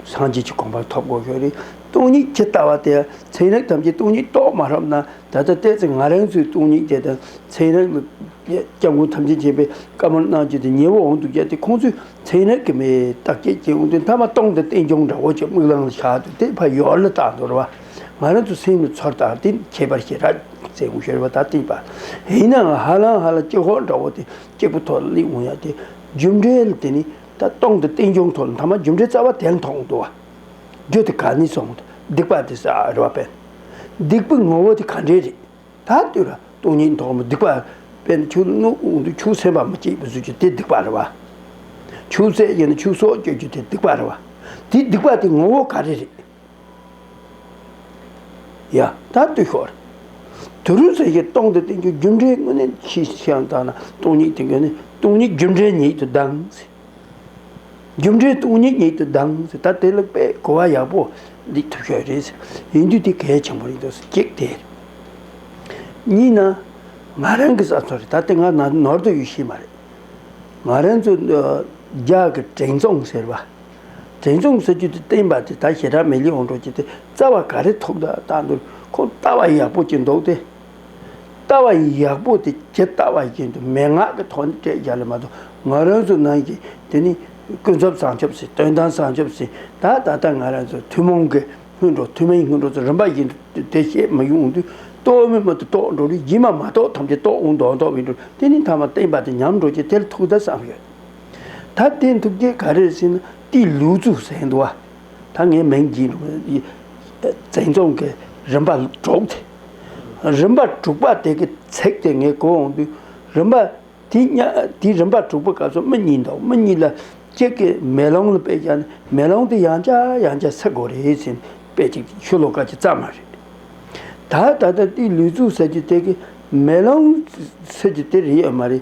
སངས་རྒྱས་ཀྱི་གོམས་པར་ཐོབ་དགོས་ཞོར་རེད། སྟོང་ཉིད་ཇི་ལྟ་བ་དེ་ཚན་རིག་ཐམས་ཅད་སྟོང་ཉིད་རྟོགས་མ་ཐུབ་ན་ད་ལྟ་བལྟས་ཚེ་ང་རང་ཚོའི་སྟོང་ཉིད་དེ་དང་ཚན་རིག་ལ་སྐྱབས་མགོན་ཐམས་ཅད་མཁྱེན་པའི་བཀའ་མོལ་གནང་རྒྱུ་དེ་ཉེ་བོ་འོང་འདུག་གལ་ཏེ་ཁོང་ཚོས་ཚན་རིག་གི་མེད་བརྟག་དཔྱད་བྱེད་འོང་དུས་མཐའ་མ་སྟོང་དུ་བསྟན་སྐྱོང་འདྲ་བོ་ཆེ་དམིགས་བླངས་ལ་བཞག་འདུག་དེ་ཕ་ཡུལ་ལ་བལྟ་འདོར་བ། ང་རང་ཚོ་སེམས་ཀྱི་ཚོར་དང་དེ་ཁྱད་པར་ཞེ་དྲག་ཚེ་འུ་ཤོར་བ་དང་གཏིང་དཔའ། ཡིན་ནའང་ཧ་ལམ་ཧ་ལམ་སྐྱེ་ཁོག་འདྲ་བོ་དེ་སྐྱེ་དགུ་ཐོག་གླེང་འོང་ཡ་དེ་རྒྱུ་འབྲས་དེ་ནི་ད་སྟོང་དུ་བསྟན་བྱུང་ཐོག་མཐའ་མ་རྒྱུ་འབྲས་རྩ་བ་དེ་མཐོང་འདུག་བ། རྒྱུ་དེ་ག་ནས་སོང་དུ་སྡིག་པ་དེ་ཟ་རེ་བ་བན། སྡིག་པའི་ངོ་བོ་དེ་ག་འདྲས་རེད། ད་ལྟོས་ར་སྟོང་ཉིད་མཐོང་མོད་སྡིག་པ་བན་ཆུ་སྣུག་དུ་ཆུ་སེར་བ་མ་སྐྱེས་པའི་བཟོ་རྒྱུ་དེ་སྡིག་པ་རེ་བ། ཆུ་སེར་ཡིན་ན་ཆུ་སོགས་སྐྱེ་རྒྱུ་དེ་སྡིག་པ་རེ་བ། དེའི་སྡིག་པ་དེ་ངོ་བོ་ག་རེ་རེད། ཡ། ད་ལྟོས་ཤོག། དུས་རུ་ཚོད་ཀྱི་སྟོང་དུ་བསྟན་རྒྱུ་རྒྱུ་འབྲས་དངོས་ནི་ཕྱིས་ཕྱི་ཡང་དག་ན་སྟོང་ཉིད་དེ་ཀུན་ནས་སྟོང་ཉིད་རྒྱུ་འབྲས་ཉིད་དུ་ལྡང་ཟིན། རྒྱུ་འབྲས་སྟོང་ཉིད་ཉིད་དུ་ལྡང་ཟིན་ད་དེ་ལ་དཔེ་གོ་བ་ཡག་པོ་འདི་ཐུབ་ཤོས་རེད་ཟེར་ཡིན་དུས་དེ་གལ་ཆེན་པོ་ཡིན་འདུག་གཅིག་དེ་རེད། གཉིས་ན། ང་རང་གི་ས་མཚོ་རེད་ད་དེ་ང་ནོར་དུ་ཡོད་ཤེས་མ་རེད། ང་རང་ཚོ་རྒྱ་གི་དྲེང་རྫོང་ཟེར་བ། དྲན་བྱུང་ཟེར་རྒྱུ་དེ་བསྟན་པ་དེ་ད་ཞེ་དྲག་མེ་ལི་འོང་འགྲོ་ཀྱི་དེ་རྩ་བ་ག་རེ་ཐོབ་འདོད་ལྟ་འདོད་ཁོ་ལྟ་བ་ཡག་པོ་གྱི་འདུག་སྟེ། ལྟ་བ་ཡག་པོ་དེ་ཇི་ལྟ་བ་བཞིན་དུ་མན་ངག་གི་ཐོག་ནས་སྤྲད་རྒྱག་ལས་མ་གཏོགས་ང་རང་ཚོ་ནང་གི་དེ་ནི་ཀུན་རྫོབ་བཟང་ཆོབ་སེ་དོན་དམ་བཟང་ཆོབ་སེ་ད་ད་ལྟ་ང་རང་ཚོ་ཐུན་མོང་གི་སྔོན་འགྲོ་ཐུན་མིན་སྔོན་འགྲོ་ཚོ་རིམ་པ་བཞིན་དུ་དེ་བཤད་མ་ཡོང་དུས་ལྟོས་མེད་མ་ཏུ་རྟོགས་འགྲོ་རིགས་ཀྱི་མ་མ་རྟོགས་ཐམས་ཅད་རྟོགས་འོང་དོགས་འདོགས་བས་འགྲོ་དེ་ནི་མཐའ་མ་བསྟན་པ་དེ་ཉམས་འགྲོ་ཀྱི་དེར་ཐུག་ད་བསམ་ཡོད། ད་བསྟན་ཐུབ་རྒྱལ་ག་རེར་ཕྱིན་ན་དེའི་ལུས་གཙུག་ཟེར་འདུག་བ། ད་ངའི་མིང་བགྱིས་འདུག་བཙན་རྫོང་གི་རིམ་པ་དྲུག་དེ། རིམ་པ་དྲུག་པ་དེ་གི་ཚེག་དེ་ངས་གོ་འོང་དུས་རིམ་པ་དེ་ཉ་དེའི་རིམ་པ་དྲུག་པ་སྐབས་སུ་མི་གཉིས་འདུག་མི་གཉིས་ལ་གཅིག་གི་མེ་ལོང་ལ་དཔེ་བཞག་ནས་མེ་ལོང་དེ་ཡང་བྱ་ཡང་བྱ་ཟེར་དགོས་རེད་ཟེར་ནས་དཔེ་གཅིག་གཅིག་ཤོ་ལོ་ཀ་གཅིག་བརྩམས་མ་རེད། ད་ད་ལྟ་དེའི་ལུས་གཙུག་ཟེར་གྱི་དེ་གི་མེ་ལོང་ཟེར་གྱི་དེ་རེད་ཡོད་མ་རེད།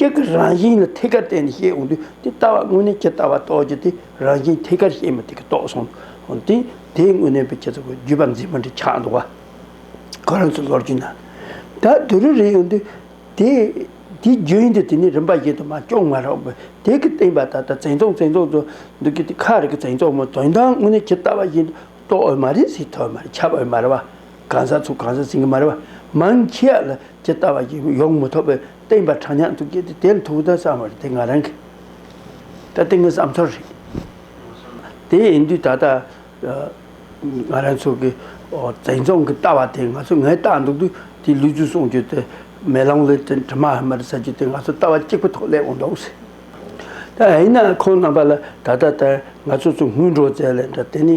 སྐད་ཀྱི་རང་བཞིན་ལ་ཐད་ཀར་བརྟེན་ནས་བཤད་འོང་དུས་དེ་ལྟ་བ་དངོས་གནས་ཇི་ལྟ་བ་རྟོགས་རྒྱུ་དེ་རང་བཞིན་ཐད་ཀར་བཤད་མི་ཐུབ་ཀི་རྟོགས་སོང་དུས་དེ་དངོས་གནས་པའི་ཁྱེད་ཚོ་གི་རྒྱུད་པ་འཛིན་མ་འདི་ཆགས་འདུག་བ། ཁོ་རང་ཚོའི་ལོ་རྒྱུས་ནང་ད་དུས་རེ་རེ་ཡོང་དུས་དེ་དེའི་རྒྱུན་ཡིན་དུས་དེ་ནི་རིམ་པ་བཞིན་དུ་མ་སྐྱོང་མ་རོགས་པའི་དེ་ཀྱི་སྟེང་པ་ད་ལྟ་བཙན་རྫོང་བཙན་རྫོང་དུ་འདུག་གི་དེ་ཁ་རེ་གི་བཙན་རྫོང་མོ་དོན་དང་དངོས་གནས་ཇི་ལྟ་བ་བཞིན་དུ་རྟོགས་འོས་མ་རེད་ཟེར་ཐོས་མ་རེད་འཆབ་འོས་མ་རེད་བ། གང་ཟག་ཚོ་གང་ཟག་ཟིན་གྱི་མ་རེད་བ། མང་ཁྱི་ཡ་ལ་ཇི་ལྟ་བ་ཡིན་ཡོང་མི་ཐོག་པའི་བསྟན་པ་དྲང་སྙང་འདུག་གྱི་དེ་དེ་མཐོང་དོན་བསམ་བ་རེད་དེ་ང་རང་གི་ད་ལྟའི་ངའི་བསམ་ཚོར་རེད། དེ་ཡིན་དུས་ད་ལྟ་ང་རང་ཚོ་གི་བཙན་རྫོང་གི་ལྟ་བ་དེ་ང་ཚོ་ངའི་ལྟ་འདུག་དུས་དེ་ལུས་ཚུལ་གསུངས་རྒྱུ་དེ་མེ་ལོང་ལས་དྲི་མ་ཧ་མ་རེད་ཟེར་རྒྱུ་དེ་ང་ཚོ་ལྟ་བ་གཅིག་པོ་ཐོག་སླེབས་འོང་འདོག་ཟེར། ད་ཡིན་ན་ཁོང་རྣམ་པ་ལ་ད་ལྟ་ལྟར་ང་ཚོ་ཚོ་དངུལ་འགྲོ་རྩལ་ལས་འདྲ་དེ་ནི།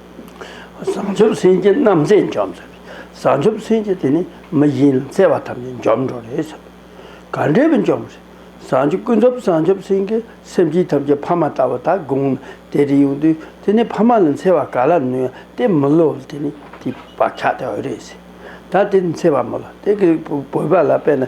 བྱང་ཆུབ་སེམས་བསྐྱེད་རྣམ་བརྩེ་འཇོམས། བྱང་ཆུབ་སེམས་བསྐྱེད་དེ་ནི་མི་གཞན་ལ་བརྩེ་བ་ཐམས་ཅད་འཇོམས་འགྲོ་རེད། ག་འདྲས་པའི་འཇོམས། བྱང་ཆུབ་ཀུན་རྫོབ་བྱང་ཆུབ་སེམས་བསྐྱེད་སེམས་བསྐྱེད་ཐམས་ཅད་ཕ་མ་ལྟ་བུ་དག་དགོངས་ནས་དེ་རིང་ཡོང་དུས་དེ་ནི་ཕ་མ་ལ་འཚེ་བ་ག་ལ་ནུས་ཡ་དེ་མི་བསླུ་བ་དེ་ནི་དེའི་བག་ཆགས་དེ་འོས་རེད། ད་དེ་འཚེ་བ་མི་བསླུ་དེ་གི་བོད་པ་ལ་དཔེ་ན།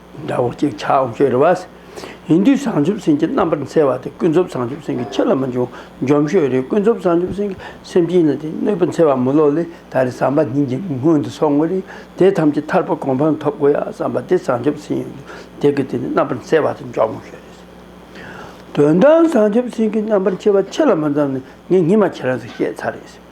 དགྲ་བོ་གཅིག་ཆགས་འོང་ཤོས་རེད་བ། ཡིན་དུས་བྱང་ཆུབ་སེམས་ཀྱི་རྣམ་པར་འཚེ་བ་དེ་ཀུན་རྫོབ་བྱང་ཆུབ་སེམས་ཀྱི་ཕྱིར་ལ་མི་འཇུག་འཇོམས་ཤོས་རེད་ཀུན་རྫོབ་བྱང་ཆུབ་སེམས་ཀྱི་སེམས་ཅན་ལ་དེ་གནོད་པ་འཚེ་བ་མི་སློབ་ལས་ད་རེས་བསམ་པ་ཉིད་ཀྱི་སྔོན་དུ་སོང་བ་རེད་དེ་ཐམས་ཅད་ཐར་པ་གོང་འཕང་ཐོབ་དགོས་ཡ་བསམ་པ་དེ་བྱང་ཆུབ་སེམས་ཡིན་དུས་དེ་ཀུན་དེ་རྣམ་པར་འཚེ་བ་དེ་འཇོམས་འོང་ཤོས་རེད། དོན་དམ་བྱང་ཆུབ་སེམས་ཀྱི་རྣམ་པར་འཚེ་བ་ཕྱི་ལ་མི་འཛམ་ནས་ངས་ཉིན་མ་ཁྱེད་རང་ཚོས་བཤད་ཚར་རེད།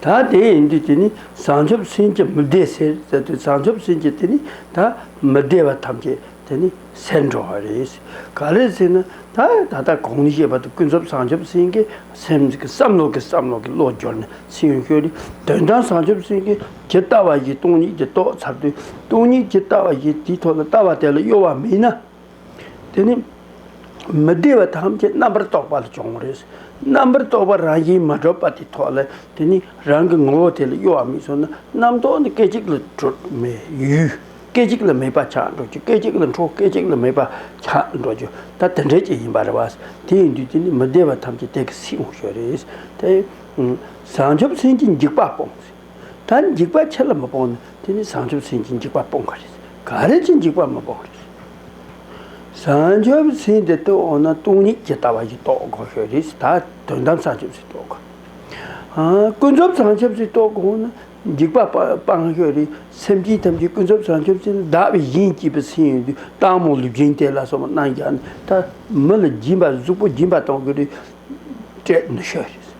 ད་དེ་ཡིན་དུས་དེ་ནི་བྱང་ཆུབ་སེམས་ཀྱི་མི་བདེ་ཟེར་ཟེར་དུས་བྱང་ཆུབ་སེམས་ཀྱི་དེ་ནི་ད་མི་བདེ་བ་ཐམས་ཅད་དེ་ནི་ཟད་འགྲོ་བ་རེད། ག་རེ་ཟེར་ན་ད་ད་ལྟ་གོང་ནས་བཤད་པ་དང་ཀུན་རྫོབ་བྱང་ཆུབ་སེམས་ཀྱི་སེམས་ཀྱི་བསམ་བློ་གི་བསམ་བློ་གི་བློ་སྦྱོར་ནི་ཚིག་ཡོན་ཤོས་ནི་དོན་དམ་བྱང་ཆུབ་སེམས་ཀྱི་ཇི་ལྟ་བ་བཞིན་སྟོང་ཉིད་ཀྱི་རྟོགས་ཚར་དུས་སྟོང་ཉིད་ཇི་ལྟ་བ་བཞིན་དེའི་ཐོག་ལ་ལྟ་བ་དེ་ལ་གཡོ་བ་མེད་ན། དེ་ནི་མི་བདེ་བ་ཐམས་ཅད་རྣམ་པར་རྟོག་པ་ལས་བྱུང་བ་རེད། རྣམ་པར་རྟོག་པ་རང་བཞིན་མ་གྲུབ་པ་དེ་ཐོག་ལ་དེ་ནི་རང་གི་ངོ་བོ་དེ་ལ་གཡོ་བ་མི་བཟོད་ན་རྣམ་རྟོག་ནི་སྐད་ཅིག་ལ་གྲོལ་མི་ཡུལ་སྐད་ཅིག་ལ་མེད་པ་ཆགས་འགྲོ་རྒྱུ་སྐད་ཅིག་ལ་འཕྲོ་སྐད་ཅིག་ལ་མེད་པ་ཆགས་འགྲོ་རྒྱུ་ད་དེ་འདྲའི་ཅིག་ཡིན་པ་རེད་བ། དེ་ཡིན་དུས་དེ་ནི་མི་བདེ་བ་ཐམས་ཅད་དེ་ག་སིའི་ངོ་བྱོས་རེད། དེ། བྱང་ཆུབ་སེམས་ཀྱི་འཇིགས་པ་སྤོངས། ད་འཇིགས་པ་ཁྱེད་ལ་མི་སྤོང་ན་དེ་ནི་བཟང་ཆུབ་སེམས་ཀྱིས་འཇིགས་པ་སྤོང་གི་རེད། ག་རེ་ཀྱིས་འཇིགས་པ་མི་སྤོང་གི་རེད། བཟང་ཆུབ་སེམས་དེ་རྟོགས་འོང་ན་སྟོང་ཉིད་ཇི་ལྟ་བ་བཞིན་རྟོགས་དགོས་ཤོས་རེད། ད་དོན་དམ་བཟང་ཆུབ་སེམས་རྟོགས་དགོས། ཀུན་རྫོབ་བཟང་ཆུབ་སེམས་རྟོགས་དགོས་ན་འཇིགས་པ་སྤང་ཤོས་རེད། སེམས་ཅན་ཐམས་ཅད་ཀུན་རྫོབ་བཟང་ཆུབ་སེམས་ལ་བདག་བཞིན་གྱིས་པའི་སེམས་ཡོད་དུས་སྟག་མོ་ལུས་སྦྱིན་དེ་ལ་སོགས་པ་གནང་རྒྱག་ནས་ད་མི་ལ་སྦྱིན་པ་གཟུགས་པོ་སྦྱིན་པ་གཏོང་གི་རེད། སྤྲད་ནུས་ཤོས་རེད།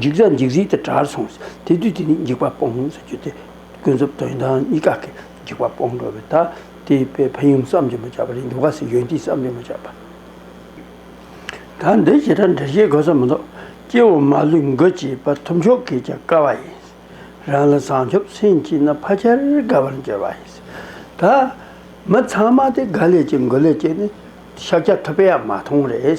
འཇིགས་ལ་འཇིགས་ཟིལ་དང་དགྲར་སོང་ཟེར་དེ་དུས་དེ་ནི་འཇིགས་པ་སྤོང་ངོ་ཟེར་རྒྱུ་དེ་ཀུན་རྫོབ་དོན་དང་གཉིས་ཀ་གི་འཇིགས་པ་སྤོང་འགྲོ་བས་ད་དེ་པའི་ཕན་ཡོན་བསམ་གྱིས་མ་ཁྱབ་པ་རེད་འདུག་ག་སའི་ཡོན་ཏན་བསམ་གྱིས་མ་ཁྱབ་པ། ད་འདི་ཞེ་དྲག་འདྲི་བྱེད་དགོས་ས་མི་འདུག་སྐྱེ་བོ་མ་ལུས་མགོ་བཅད་པ་ཐུབ་མཆོག་གིས་ཀྱང་བཀའ་བ་ཡིན། རང་ལ་བཟང་ཆོབ་སེམས་སྐྱེས་ན་ཕ་ཁྱེར་དགའ་བར་འགྱུར་བ་ཡིན། ད་མི་ཚང་མ་དེ་དགའ་ལས་ཀྱི་མགོ་ལས་ཀྱི་ནི་ཤཱཀྱ་ཐུབ་པའང་མ་མཐོང་རེད།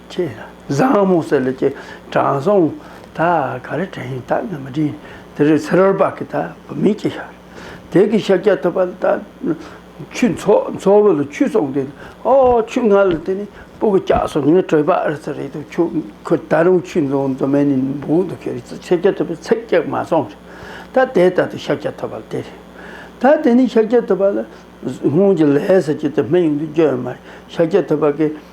ཆེ། བཟང་མོ་ཟེར་ལས་ཀྱི་དྲང་སྲོང། ད་ག་རེ་དྲན་ཡིན་དག་ནི་མི་དྲན། དེ་རེ་ཚེ་རོལ་བག་གི་ད་བུ་མིན་གྱི་ཤར། དལ་གྱི་ཤ་རྒྱགས་ཐུབ་པ་ལ་ད། ཆུ་མཚོ་བོ་ལ་ཆུ་སོང་དེ། ཨོ་ཆུ་ང་ལ་དེ་ནི་སྤུ་གུ་སྐྱག་སོ་ངས་བྲོས་པ་ཨེར་ཚ་རེད་འདུག་ཁྱོད་ཁོ་ད་རུང་ཆུ་འཛོང་མདོ་མེད་ནི་འབུག་འདུག་ཁྱོད་རེ་ཚ་ཚེ་རྒྱགས་ཐུབ་པའི་ཚེག་རྒྱགས་མ་སོང་ཞིག་ད་དེ་ལྟ་དུ་ཤ་རྒྱགས་ཐུབ་པ་ལ་དེ་རེད། ད་དེ་ནི་ཤ་རྒྱགས་ཐུབ་པ་ལ། སྔོན་གྱི་ལས་ཟེར་གྱི་དེ་སྨད་ཡུལ་དུ་སྐྱོད་ཡོད་མ་རེད་ཤ་རྒྱགས་ཐུབ་པ་གི།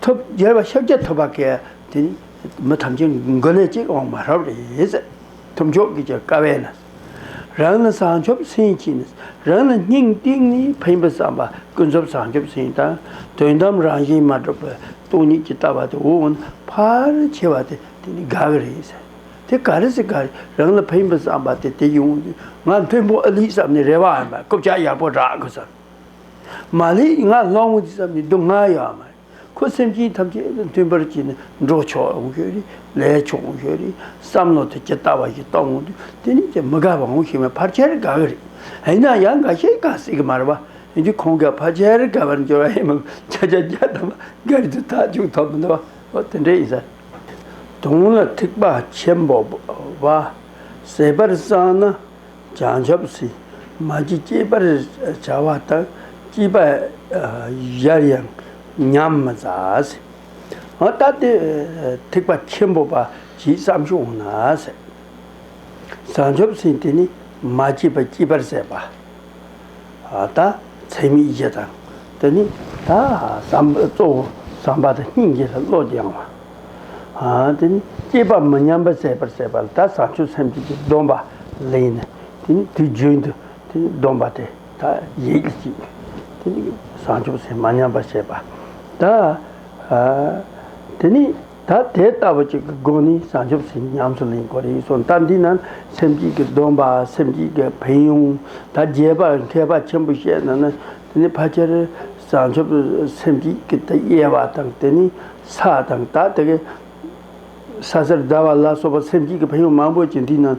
ཐོབ། རྒྱལ་བ་ཤཱཀྱ་ཐུབ་པ་ཀྱེ། དེ་ནི་མི་ཐམས་ཅད་མགོན་ནས་གཅིག་འོང་མ་ཧྲཱི་རེད། ཐུབ་མཆོག་གིས་ཀྱང་དཀའ་བས་ན། རང་ནི་བཟང་ཕྱོགས་སེམས་བསྐྱེད་ནས། རང་ལ་སྙིང་ཏིག་ནི་ཕན་པའི་བསམ་པ་ཀུན་རྫོབ་བཟང་ཕྱོགས་སེམས་དང་དོན་དམ་རང་བཞིན་མ་གྲུབ་པའི་སྟོང་ཉིད་ཀྱི་ལྟ་བ་དེ་འོང་ན་ཕར་ཆེ་བ་དེ་དེ་ནི་དགག་རེད། དེ་ག་རེ་ཟེར་ག་རེ་རང་ལ་ཕན་པའི་བསམ་པ་དེ་དེ་ཡོང་དུས་ང་ཕན་པོ་ཨ་ལི་བསམ་ནས་རེ་བའམ་རྐུབ་ལྕག་ཡག་པོ་བསྒྲག་དགོས་བསམ། མ་ལེ་ང་སློང་མོ་འདི་ཙམ་མི་སྡུག་བསྔལ་ཡོད་ཨ་མ་ཨེ། ཁོ་སེམས་ཅན་ཐམས་ཅད་དང་མཐུན་པར་གྱིས་ནས་འགྲོ་ཆོག་འོང་ཤོག་རེ། ལས་ཆོག་འོང་ཤོག་རེ། བསམ་བློ་དེ་ཇི་ལྟ་བ་བཞིན་གཏོང་འོང་དུས་དེ་ནས་ཀྱང་མི་དགའ་བ་འོང་ཤེས་པས་ཕར་ཆེར་དགའ་གི་རེད། ཡིན་ན་ཡང་འགའ་ཤས་གང་ཟེར་གི་མ་རེད་པ། ཡིན་དུས་ཁོང་གིས་ཕར་ཆེར་དགའ་བར་འགྱུར་བ་ཡིན་མོད་ཀྱང་ཁྱེད་ཅག་རྒྱ་དམར་སྒེར་གྱི་ཐག་གཅོད་ཐོབ་མི་འདུག་ཨོ་དེ་འདྲས་ཡིན་ས་རེད། དོན་ལ་ཐེག་པ་ཆེན་པོ་བ། ཟད་པར་བསམ་ན་བྱང་ཆུབ་སེམས་མ་ཅི་སྐྱེས་པར་བྱ་བ་དང་སྐྱེས་པ་གཞལ་ཡང་ཉམས་མི་ཟ། ད་དེ་ཐེག་པ་ཆེན་པོ་པ་ཇི་ཙམ་ཞིག་འོང་ན། བྱང་ཆུབ་སེམས་དེ་ནི་མ་སྐྱེས་པ་སྐྱེས་པར་ཟད་པ། ལྟ། ཚད་མའི་གཞི་དང་དེ་ནི་ལྟ། གཙོ་བོ་བསམ་པ་དང་སྙིང་རྗེ་ལ་བློ་སྦྱང་བ། དེ་ནི་སྐྱེས་པ་མི་ཉམས་པར་བྱེད་པར་བྱེད་པ་ལ་དག་བྱང་ཆུབ་སེམས་བསྐྱེད་ཀྱི་སྡོམ་པ་ལ་ཡིན། དེ་ནི་དུས་རྒྱུན་དུ་དེ་ནི་སྡོམ་པ་དེ་དག་ཡིད་ཀྱིས་བྱེད། དེ་ནི་བྱང་ཆུབ་སེམས་མ་ཉམས་པར་བྱེད་པ་ལྟ། དེ་ནི། ད་དེ་ལྟ་བུ་ཅིག་གི་སྒོ་ནས་བྱང་ཆུབ་སེམས་ཉམས་སུ་ལེན་དགོས་རེད་གསུངས་སྟབས་འདི་ན་སེམས་བསྐྱེད་ཀྱི་སྡོམ་པ་སེམས་བསྐྱེད་ཀྱི་ཕན་ཡོན་ད་རྒྱས་པར་མཁས་པ་ཆེན་པོས་བཤད་ན་ནི་དེ་ནི་ཕལ་ཆེར་བྱང་ཆུབ་སེམས་བསྐྱེད་ཀྱི་དབྱེ་བ་དང་དེ་ནི་ས་དང་ད་དེ་གའི་ས་སེར་ཟླ་བ་ལ་སོགས་པ་སེམས་བསྐྱེད་ཀྱི་ཕན་ཡོན་མང་པོ་ཅིག་འདི་ན་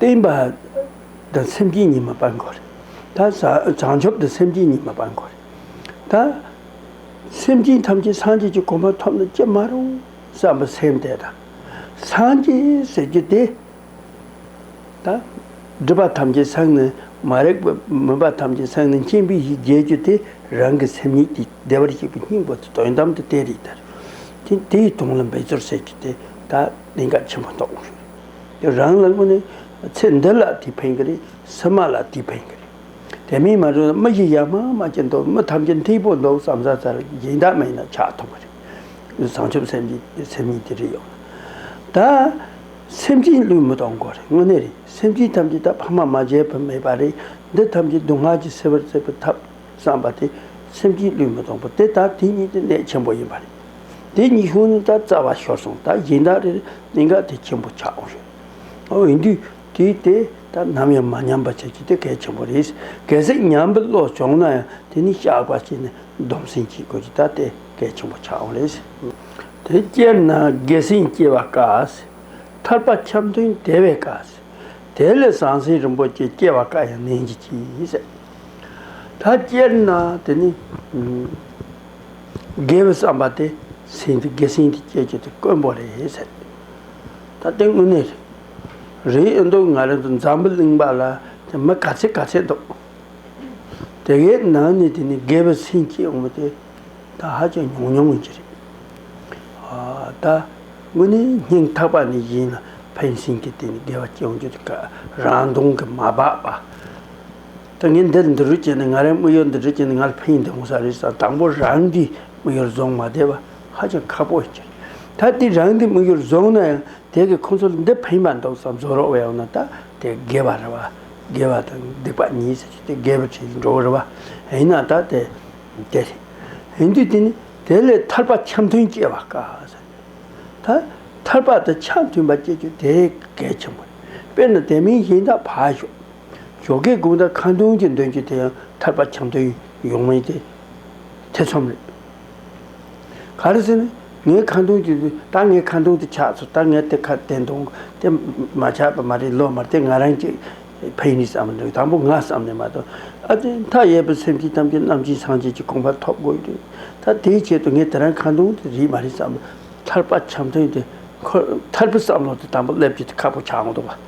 བརྟན་པ་དང་སེམས་ཅན་ཉི་མ་སྤར་འགོ་རེད། ད་བྱང་ཆུབ་དང་སེམས་ཅན་ཉི་མ་སྤར་འགོ་རེད། ད་སེམས་ཅན་ཐམས་ཅད་སངས་རྒྱས་ཀྱི་གོ་འཕང་ཐོབ་ན་ཅི་མ་རུང་བསམ་པ་སེམས་དེ་དང། སངས་རྒྱས་ཟེར་རྒྱུ་དེ་ད་སྒྲིབ་པ་ཐམས་ཅད་སངས་ནས་མ་རེག་པའི་མུན་པ་ཐམས་ཅད་སངས་ནས་མཁྱེན་པའི་ཡིད་རྒྱལ་རྒྱུ་དེ་རང་གི་སེམས་ཉིད་ཀྱི་བདེ་བར་གཤེགས་པའི་སྙིང་པོ་དེ་དོན་དམ་དུ་བསྟན་རིགས་དེར། དེ་དེའི་དོན་ལ་འབད་རྩོལ་བྱེད་རྒྱུ་དེ་ད། གནད་འགག་ཆེན་པོ་རྟོགས་དགོས་ཞེས་རེད། རང་ལ་དངོས་གནས་ཚེ་འདི་ལ་དེ་ཕན་གྱི་རེད། སེམས་མ་ལ་དེ་ཕན་གྱི་རེད། དེ་མིན་མ་འགྲོ་ན་མི་ཞིག་ཡར་མར་མ་སྐྱེ་འདོད་མི་ཐམས་ཅད་འཐིག་པོ་འདོད་བསམ་ས་ལྟར་སྦྱིན་བདག་མེད་ན་ཆགས་ཐུབ་ཀྱི་རེད། བྱང་ཆུབ་སེམས་ཀྱི་སེམས་ཉིད་དེ་རེད་ཡོང་ན། ད་སེམས་ཅན་བློས་མི་གཏོང་དགོས་རེད་དངོས་གནས་རེད། སེམས་ཅན་ཐམས་ཅད་ད་ཕ་མ་མ་བརྒྱད་པ་མེད་པ་རེད་འདི་ཐམས་ཅད་སྡུག་བསྔལ་གྱིས་སེལ་བར་བརྩེ་བའི་ཐབས། བསམ་པ་དེ་སེམས་ཀྱི་བློས་མི་སྟོང་པོ་དེ་ལྟར་དེ་ཉིད་དེ་གནད་ཆེན་པོ་ཡིན་པ་རེད། དེ་ཉིད་ཤོང་ནས་ད་རྩ་བ་ཤོར་སོང་ད་གཞན་དག་རེ་རེ་གནད་འགག་དེ་ཆེན་པོ་ཆགས་འོང་ཞོར་ཨོ་འོན་དུས་དེ་དེ་ད་ནམ་ཡང་མ་ཉམས་པ་བྱ་རྒྱུ་དེ་གལ་ཆེན་པོ་རེད། གལ་སྲིད་ཉམས་པའི་བློ་བྱུང་ན་ཡང་དེ་ནི་བཤགས་པ་བྱས་ནས་སྡོམ་སེམས་བསྐྱེད་དགོས་རྒྱུ་ད་དེ་གལ་ཆེན་པོ་ཆགས་འོང་རེད། དེ་སྐྱེས་ན་དགེ་སེམས་སྐྱེ་བ་དཀའ། ཐར་པ་འཁྱམས་དོན་དེ་བས་དཀའ། དེ་ལས་ཟང་ཟིང་རིན་པོ་ཆེ་སྐྱེ་བ་དཀའ་ཡང་ནན་གྱིས་གྱིས། ད་སྤྱིར་ན་དེ་ནི། དགེ་བའི་བསམ་པ་དེ་སྲིད་འདི་དགེ་སྲིད་འདི་སྐྱེད་རྒྱུ་དེ་དཀོན་པོ་རེད་ཟེར། ད་དེ་དངོས་གནས་རེད། རེད་འདུག་ང་རང་ཚོ་འཛམ་བུ་གླིང་པ་ལ་དེ་མི་ག་ཚད་ག་ཚད་འདུག། དེ་གའི་ནང་ནས་དེ་ནི་དགེ་བའི་སེམས་སྐྱེ་ཡོང་བ་དེ་ད་ཧ་ཅང་ཉུང་ཉུང་ཡིན་གྱི་རེད། ད་དངོས་གནས་སྙིང་ཐག་པ་ནས་བཞེས་ན་ཕན་སེམས་ཀྱི་དེ་ནི་དགེ་བ་སྐྱེ་ཡོང་རྒྱུ་དེ་ག་རང་མདུང་གི་མ་སྦགས་པ། ད་ངས་འདི་འདི་རུ་བྱས་ནས་ང་རའི་དམིགས་ཡུལ་འདི་འདྲ་བྱས་ནས་ང་ལ་ཕན་ཡོན་ལྡན་དགོས་ས་རེད་ཟེར་ན་དང་པོ་རང་གི་དམིགས་ཡུལ་བཟུང་མ་བསྡད་པ་ཧ་ཅང་ཁག་པོ་ཞིག་རེད། ད་དེ་རང་གི་དམིགས་ཡུལ་བཟུང་ན་ཡང་དེ་གིས་ཁོ་ཚོ་ལ་འདི་ཕན་པ་འདུག་བསམ་བཟོ་རོགས་བས་འོ་ན་ད་དེ་དགེ་བ་རེད་བ། དགེ་བ་དང་སྡིག་པ་གཉིས་ཟེར་གྱི་དེ་དགེ་བའི་ཁྲིད་དུ་འགྲོ་གི་རེད་བ། ཡིན་ན་ད་དེ་དེ་རེད། ཡིན་དུས་དེ་ནི་དེ་ལས་ཐར་པ་འཆམ་མཐུན་སྐྱེ་བ་དཀའ་ཟེར་ན། ད་ཐར་པ་དང་འཆམ་མཐུན་པ་སྐྱེ་རྒྱུ་དེ་གལ་ཆེན་པོ་རེད། དཔེར་ན་དེ་མིན་གཞན་དག་ཕར་ཞོག། ཇོ་སྒེག་དགུང་ཟླ་ཁ་མདུན་གྱི་འདོན་རྒྱུ་དེ་ཡང་ཐར་པ་བྱམས་དོན་ཡོངས་མིན་ཏེ། ཐེ་ཚོམ་རེད། ག་རེ་ཟེར་ན། ངའི་ཁ་མདུན་གྱི་རྟགས་ངའི་ཁ་མདུན་དུ་ཆགས་སོ་ད་ངས་དེ་ཁ་བསྟན་དུང་དེ་མ་ཆགས་པ་མ་རེད་ལོ་མ་དེ་ང་རང་གི་ཕའི་ནས་བསམ་འདུག་དང་པོ་ང་བསམ་ནས་མ་གཏོགས་ཨ་ཏི་མཐའ་ཡས་པའི་སེམས་ཀྱི་གཏམ་གྱི་རྣམ་འབྱིན་སངས་རྒྱས་ཀྱི་དགོངས་པ་ཐོབ་དགོས་རེད་ད་དེའི་ཆེད་དུ་ངས་དེ་རང་ཁ་མདུན་དེ་རིག་མ་རེད་བསམ། ཐར་པ་བྱམས་དོན་དེ་ཁོ་ཐར་པའི་བསམ་བློ་དེ་དང་པོ་སླེབས་རྒྱུ་དེ་ཁག་པོ་ཆགས་འོང་འདུག་བ།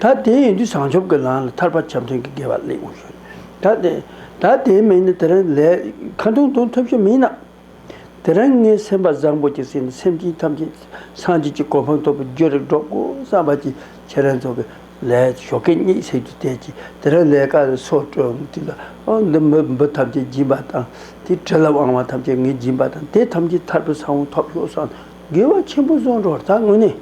ད་དེ་ཡིན་དུས་བྱང་ཆུབ་ཀྱི་ལམ་ལ་ཐར་པ་ཆབ་འབྲིང་གི་དགེ་བ་གླེང་བར་བྱོས། ད་དེ། ད་དེའི་མིང་ནི་དེ་རིང་ལས། ཁ་མཐོང་མཐོང་ཐུབ་ཤེས་མིན་ནམ། དེ་རིང་ངའི་སེམས་པ་བཟང་པོ་གྱི་སེམས་ནི་སེམས་ཅན་ཐམས་ཅད་སངས་རྒྱས་ཀྱི་གོ་འཕང་ཐོབ་པའི་རྒྱུ་རེ་སྒྲོག་གོ་བསམ་པ་གྱིས་ཁྱེད་རང་ཚོ་གི་ལས་ཞོ་སྐད་གཉིས་བསྲེགས་དུས་བལྟས་ཀྱིས་དེ་རིང་ལས་ཀ་ལས་སོ་བཀྲོལ་དུས་ལ་ཨང་འདི་མི་འབུ་ཐམས་ཅད་སྦྱིན་པ་དང་དེའི་དྲི་ལ་དབང་བ་ཐམས་ཅད་ངས་སྦྱིན་པ་དང་དེ་ཐམས་ཅད་ཐར་པའི་ས་བོན་ཐོབ་ཤོག་བསམ་དགེ་བ་ཆེན་པོ་བཟོ་འགྲོར་ད་དངོས་གནས།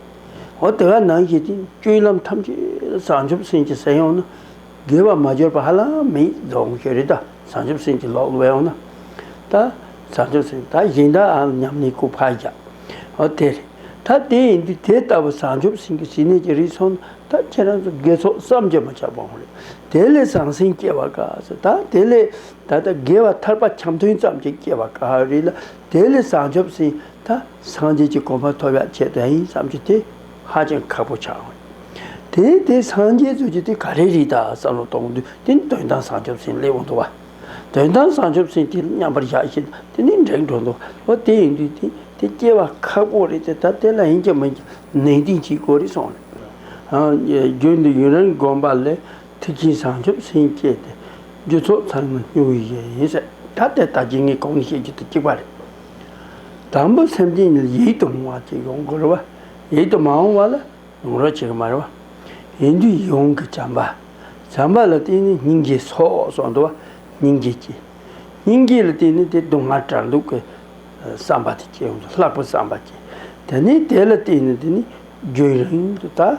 འོ་དེ་ག་ནང་བཞིན་སྤྱོད་ལམ་ཐམས་ཅད་བྱང་ཆུབ་སེམས་ཀྱི་ཟས་ཡོང་ན། དགེ་བ་མ་འབྱོར་པ་ཧ་ལམ་མི་རྫོགས་ཀྱི་རེད་ད། བྱང་ཆུབ་སེམས་ཀྱི་ལོག་ལོས་ཡོང་ན། ད་བྱང་ཆུབ་སེམས་ད་གཞན་དག་ཨང་སྙམ་ནས་ཁུ་ཕག་རྒྱག། འོ་དེ་རེད་ད་དེ་ཡིན་དུས་དེ་ལྟ་བུ་བྱང་ཆུབ་སེམས་ཀྱི་ཞི་གནས་ཀྱི་རིགས་ཚོགས་ན་ད་ཁྱེད་རང་ཚོ་དགེ་ཚོགས་བསམ་གྱིས་མ་ཁྱབ་པའང་རེད། དེ་ལས་བཟང་སེམས་སྐྱེ་བ་དཀའ་ཚེ་ད་དེ་ལས་ད་ལྟ་དགེ་བ་ཐར་པ་འཁྱམས་ཐུན་ཙམ་གྱིས་སྐྱེ་བ་དཀའ་བ་རེད་ལ་དེ་ལས་བྱང་ཆུབ་སེམས་ད། སངས་རྒྱས་ཀྱི་གོ་འཕང་ཐོབ་ཡག་བྱེད་དོན་ཡིན་བསམ་རྒྱུ་དེ་ཧ་ཅང་ཁག་པོ་ཆགས་ཡོང། དེ་ཡིན་དེ་སངས་རྒྱས་རྩོད་རྒྱུ་དེ་ག་རེ་རེད་ད་བསམ་བློ་གཏོང་དུས་དེ་ནི་དོན་དམ་བཟང་ཆོག་སེམས་སླེ་འོང་འདུག་བ། དོན་དམ་བཟང་ཆོག་སེམས་དེ་མཉམ་པར་བཞག་བཞིན་དུ་དེ་ནི་འབྲེག་འགྲོ་འདུག་བ་དེ་ཡིན་དུས་དེ་དེ་སྐྱེ་བ་ཁག་པོ་རེད་དེ་ད་དེ་ལ་ཡིན་གྱི་མིན་གྱི་ནན་ཏིང་གྱིས་གོ་རེ་སོང། རྒྱུན་དུ་ཡུན་རིང་བསྒོམས་པ་ལས་ཐིག་ཆེན་བྱང་ཆུབ་སེམས་བསྐྱེད་དེ། རྒྱུ་ཚོགས་ཚར་མ་སྨྱུག་བའི་ཡེ་ཡིན་ཟེར། ད་ལྟའི་ལྟ་ཅི་ངེས་གང་ནས་བཤད་རྒྱུ་དེ་གཅིག་པ་རེད། དང་པོ་སེམས་ཅན་ཉིད་ཡིད་དུ་འོང་བ་ཅིག་ཡོང་དགོས་རེད་བ། ཡིད་དུ་མ་འོང་བ་ལ་ཡོང་རོགས་བྱེད་གི་མ་རེད་བ། ཡིན་དུས་ཡིད་འོང་གི་བྱམས་པ། བྱམས་པ་ལ་བརྟེན་ནས་སྙིང་རྗེ་སོགས་སོགས་འདུ་བ་སྙིང་རྗེ་སྐྱེ། སྙིང་རྗེ་ལ་བརྟེན་ནས་དེ་སྡུག་བསྔལ་དྲག་འདུག་གི་བསམ་པ་དེ་སྐྱེ་ཡོང་དུས་ལྷག་པའི་བསམ་པ་སྐྱེ། དེ་ནས་དེ་ལ་བརྟེན་ནས་དེ་ནི་རྒྱུན་རིང་དུ་དག།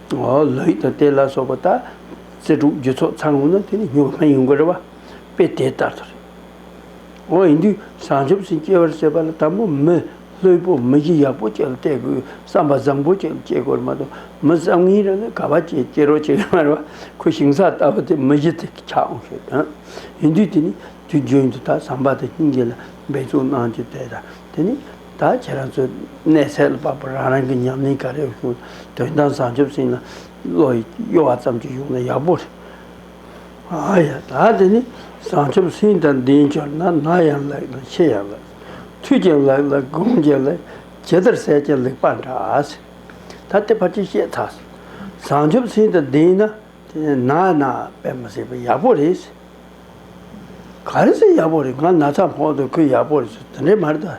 ལོ་ཡིག་དང་དེ་ལ་སོགས་པ་དག་རྩལ་དྲུག་རྒྱུ་ཚོགས་ཚང་ངོ་ན་དེ་ནི་གཉུག་མ་ཡིན་དགོས་རེད་བ་དཔེ་དེ་ལྟར་དུ་རེད། འོ་ཡིན་དུས་བྱང་ཆུབ་སེམས་སྐྱེ་བར་བྱེད་པ་ལ་དང་པོ་མི་ལྷོད་པོ་མི་གཞི་ཡག་པོ་ཅིག་ལ་བལྟས་དགོས་བསམ་པ་བཟང་པོ་ཅིག་ལ་སྐྱེ་དགོས་རེད་མ་གཏོགས་མི་བསམ་ངན་རང་ནས་ག་བ་ཅི་སྐྱེ་རོགས་བྱེད་ཀྱི་མ་རེད་བ་ཁོས་ཞིང་ས་ལྟ་བུ་དེ་མི་གཞི་དེ་ཆགས་འོང་ཞེས་དོན། ཡིན་དུས་དེ་ནི་དུས་རྒྱུན་དུ་ད་བསམ་པ་དང་སྙིང་རྗེ་ལ་འབད་བརྩོན་གནང་རྒྱུ་དེ་དང་དེ་ནི། ད་ཁྱེད་རང་ཚོས་གནས་ཚད་ལ་དཔག་པར་རང་རང་གི་ཉམས་ལེན་ག་རེ་ཡོད་བྱུང་དོན་དམ་བཟང་སྤྱོད་ཟིན་ན་བློ་གཡོ་བ་ཙམ་གྱིས་ཡོང་ན་ཡག་པོ་རེད། ཨ་ཡ་ད་དེ་ནི་བཟང་སྤྱོད་ཟིན་ད་འདིའི་འབྱོར་ན་ན་ཡང་ལེགས་ལ་ཆེ་ཡང་ལེགས། མཐུས་ཀྱང་ལེགས་ལ་དགོངས་ཀྱང་ལེགས་ཇི་ལྟར་བསལ་ཀྱང་ལེགས་པ་འདྲ། ད་དེ་ཕར་ཅིག་བཤད་ཐག་བཟང་སྤྱོད་ཟིན་ད་འདིའི་ན་ན་པད་མ་ཟེར་བ་ཡག་པོ་རེད། ག་རེ་ཟེར་ཡག་པོ་རེད་ང་ན་ཚ་མཁོག་འདུག་ཁོས་ཡག་པོ་རེད་ཟེར་དེ་འདྲའི་མ་རེད་ད།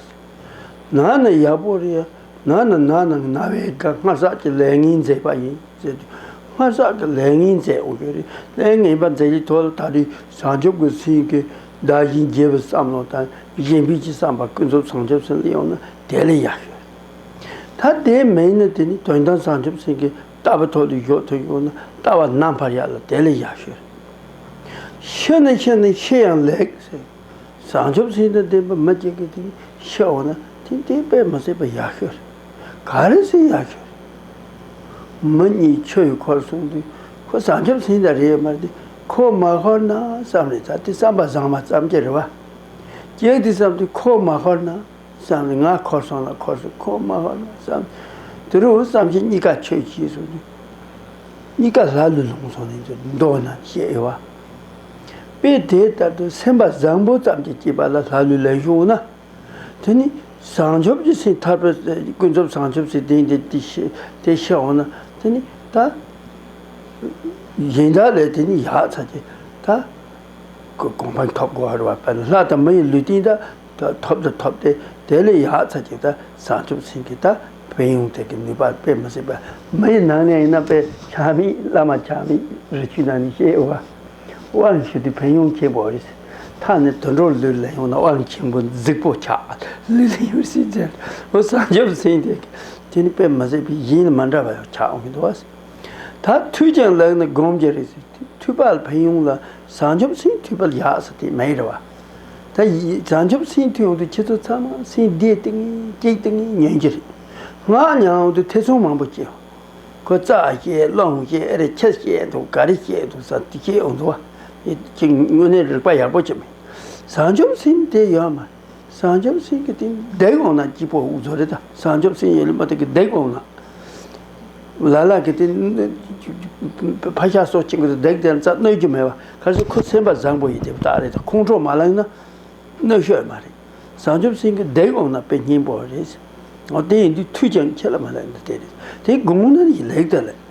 ན་ན་ཡག་པོ་རེད་ཡ། ན་ན་ན་ན་ང་ན་བའི་སྒང་སྔ་བསགས་ཀྱི་ལས་ངན་མཛད་པ་ཡིན་ཟེར་དུས་སྔ་བསགས་ཀྱི་ལས་ངན་མཛད་འོང་གི་རེད་ལས་ངན་པ་མཛད་ཀྱི་ཐོག་ལ་ད་དུས་བྱང་ཆུབ་ཀྱི་སེམས་ཀྱི་བདག་བཞིན་རྒྱལ་བའི་བསམ་བློ་དང་གཞན་ཕན་གྱི་བསམ་པ་ཀུན་རྫོབ་བྱང་ཆུབ་སེམས་ལ་ཡོང་ན་དེ་ལས་ཡག་ཤོས་རེད། ད་དེ་མ་ཡིན་ན་དེ་ནི་དོན་དམ་བྱང་ཆུབ་སེམས་ཀྱི་ལྟ་བའི་ཐོག་ཏུ་འཇོག་ཐུབ་ཡོང་ན་ལྟ་བ་རྣམ་པར་ཡལ་ལ་དེ་ལས་ཡག་ཤོས་རེད། ཤེས་ན་ཤེས་ན་ཤེས་ཡང་ལེགས། བཟང་ཆོག་ཚིག་དང་ལྡན་པ་མི་སྐྱེ་གི་དེ་ཤེས་འོང་ན་དེ་འདི་དཔེ་མི་སྲིད་པ་ཡག་ཤོས་རེད། ག་རེ་ཟིན་ཡག་ཤོས་རེད། མི་གཉིས་ཆོས་ཡོད་ཁོར་སོང་དུས་ཁོ་བཟང་ཆོག་ཚིག་དང་རེད་མ་རེད་ཁོ་མ་ཤོར་ན་བསམ་ནས་ད་དེ་བསམ་པ་བཟང་མ་བསམ་གྱི་རེད་བ། གཅིག་དེ་བསམ་དུས་ཁོ་མ་ཤོར་ན། བསམ་ནས་ང་འཁོར་སོང་ལ་འཁོར་སོང་ཁོ་སྨྲ་བ་ལ་བསམ། དེ་རུ་བསམ་བྱས་གཉིས་ཀ་ཆོས་ཀྱིས་སོ། གཉིས་ཀ་ལྷ་ལུས་ལོངས་སོང་ནས་མདོ་རྣམས་བཤད་དབྱེ་བ། དཔེ་དེ་ལྟར་དུ་སེམས་པ་བཟང་པོ་ཙམ་གྱིས་སྐྱེས་པ་ལ་ལྷ་ལུས་ལེན་བྱུང་བ་ན། དེ་ནི་བྱང་ཆུབ་ཀྱི་སེམས་ཐར་པའི་ཀུན་རྫོབ་བྱང་ཆུབ་སེམས་བདེན་འདི་དེ་ཤེས་འོང་ན་དེ་ནི་ད། གཞན་དག་ལས་དེ་ནི་ཡག་ཚ་གི་ད། གོ་འཕང་ཐོབ་དགོས་བར་བ་པ་ལ་ལྷ་དང་མི་ཡི་ལུས་རྟེན་དང། ཏེ། ཐོབ་དང་ཐོབ་སྟེ་དེ་ལས་ཡག་ཚ་གཅིག་དང་བཟང་ཐུབ་ཟིན་གྱི་ད་བེད་ཡོང་ཐད་ཀྱི་ནུས་པ་དཔེ་མི་སྲིད་པ་མི་ཡི་ནང་ནས་ཡིན་ན་དཔེ་ཆ་མེད་བླ་མ་ཆ་མེད་རི་ཆུའི་ནང་ནས་ཤེས་དབང་དབང་ཞུས་ཏེ་བེད་ཡོང་བྱེད་པའོ་ཡིན་ད་ནི་དུད་འགྲོ་ལུས་ལེན་ཡོང་ན་དབང་ཆེན་པོ་རྫིག་པོ་ཆགས་ལུས་ལེན་ཡོང་སྲིད་ཟེར་ལོ་བཟང་ཐུབ་ཟིན་ཐད་ཀྱི་དེ་ནི་དཔེ་མི་སྲིད་པའི་གཞན་ལ་མི་འདྲ་བ་ཡང་ཆགས་འོང་གི་འདུག་ད་ཐུགས་ཀྱང་ལེགས་ནི་སྒོམ་གྱི་རེད་ཟེར། མཐུད་པ་ལ་ཕན་ཡོང་ལ་བཟང་ཆོབ་སེམས་མཐུད་པ་ལ་ཡག་ཟེར་དེ་མ་ཡིན་རེད་བ། ད་བཟང་ཆོབ་སེམས་མཐུད་ཡོང་དུས་ཁྱེད་ཚོ་ཚང་མ་སེམས་བདེ་སྟེ་ངན་སྐྱིད་སྟེ་ངན་ཉོན་གྱི་རེད། ངག་ཉམས་ཡོང་དུས་ཐེ་ཚོམ་མང་པོ་སྐྱེ། ཁོ་བཙག་བཤད་སློང་བཤད་ཨེ་རེད་ཁྱེད་བཤད་འདུག་ག་རེ་བཤད་འདུག་ཟ་འདི་བཤད་འོ་འདུག་བ། ཁྱེད་དངོས་གནས་རིག་པ་ཡག་པོ་བྱེད་མི། བཟང་ཆོབ་སེམས་དེ་ཡོད་མ། བྱང་ཆུབ་སེམས་ཀྱི་སྟེང་བརྡེག་འོང་ན་སྐྱིད་པོ་བཟོ་རེ་ད་བྱང་ཆུབ་སེམས་ཡེ་ལུ་མ་ཏི་ཀི་བརྡེག་འོང་ན། ལ་ལ་ཀི་ཏི་ཕ་ཤ་སོགས་ཅི་དགོས་བརྡེག་དེ་རྩ་གནོད་རྒྱུ་མེད་པ་གལ་སྲིད་ཁོ་སེམས་པ་བཟང་པོ་ཡིན་དེ་བདག་རེད་ད་ཁོང་ཁྲོ་མ་ལངས་ན་གནོད་ཤོས་མ་རེད། བྱང་ཆུབ་སེམས་ཀྱི་བརྡེག་འོང་ན་དཔེ་སྙིང་པོ་རེད། དེ་ཡིན་དུས་ཐུགས་ཀྱང་ཁྱེད་ལ་མ་ལེགས་ན་དེ་རེད་དེ་དགོངས་ན་ལེགས་དང་ལེགས།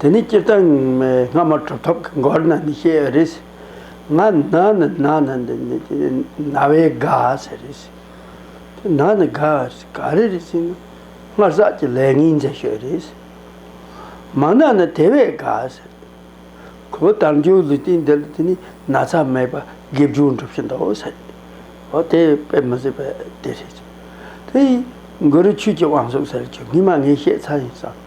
དེ་ནི་སྤྱིར་བཏང་སྔ་མོ་གྲུབ་ཐོབ་ཀྱི་མགོར་ན་ནི་ཞེས་བའི་རིགས། ང་ན་ནི་ན་ནི་འདི་ནི་ན་བའི་དགའ་ཞེས་རིགས། དེ་ན་ནི་དགའ་ཞེས་ག་རེ་རིགས་ཞེ་ན། སྔར་བསགས་ཀྱི་ལས་ངན་མཛད་ཞེས་རིགས། མ་ན་ནི་དེ་བས་དགའ་ཞེས་རིགས། ཁོ་བོ་དར་འགྱུར་ལུས་སྟེང་འདི་ལ་དེ་ནི་ན་ཚ་མེད་པར་དགེ་བཅུ་འགྲུབ་བཞིན་དུ་ཞེས་རིགས། འོ་དེ་དཔེ་མི་སྲིད་པས་དེ་རིགས། དེ་ཡིས་མགུ་རུ་ཆོས་ཀྱི་དབང་གསུངས་ཟེར་བ་ཆོས་ངན་མ་ངན་ཤེས་ཚར་ཡིན་བསམ།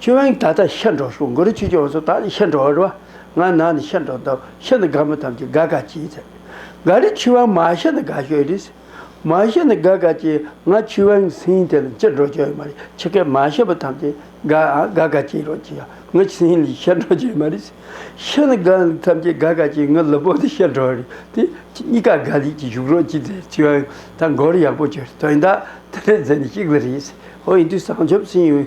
ཁྱོད་རང་ད་ལྟ་ཤི་འགྲོ་ཤོག་མགོ་རུ་ཆུ་རྐྱོང་བ་ཚོ་ད་ནི་ཤི་འགྲོ་རོགས། ང་ནག་ནི་ཤི་འགྲོ་འདོག་ཤི་ནི་དགའ་མོ་ཐམས་ཅད་དགའ་དགའ་སྐྱིད་ཚེ། དགའ་རི་ཆུ་དབང་མ་ཤི་ནི་དགའ་ཤོས་རེད། མ་ཤི་ནི་དགའ་དགའ་སྐྱིད་ང་ཆུ་དབང་སིང་དེ་ལ་ཅི་འགྲོ་རྒྱུ་ཡོད་མ་རེད་ཆི་སྐད་མ་ཤི་བ་ཐམས་ཅད་དགའ་དགའ་དགའ་སྐྱིད་རོགས་ཀྱིས་ང་སིང་ལི་ཤི་འགྲོ་རྒྱུ་ཡོད་མ་རེད། ཤི་ནི་དགའ་ནི་ཐམས་ཅད་དགའ་དགའ་སྐྱིད་ང་ལི་པོ་ནི་ཤི་འགྲོ་རེད་དེ། གཉིས་ཀ་དགའ་ལེགས་ཀྱིས་བཞུགས་རོགས་ཀྱིས་ཚེ་ཆུ་དབང་ད་མགོ་རུ་ཡག་པོ་བྱོས་དོན་དག་དེ་རེད་ཟེར་ནས་ཤིག་ལ་རེད། ཧོ་ཡིན་དུས་བཟང་ཆོབ་སིང་ཡོད།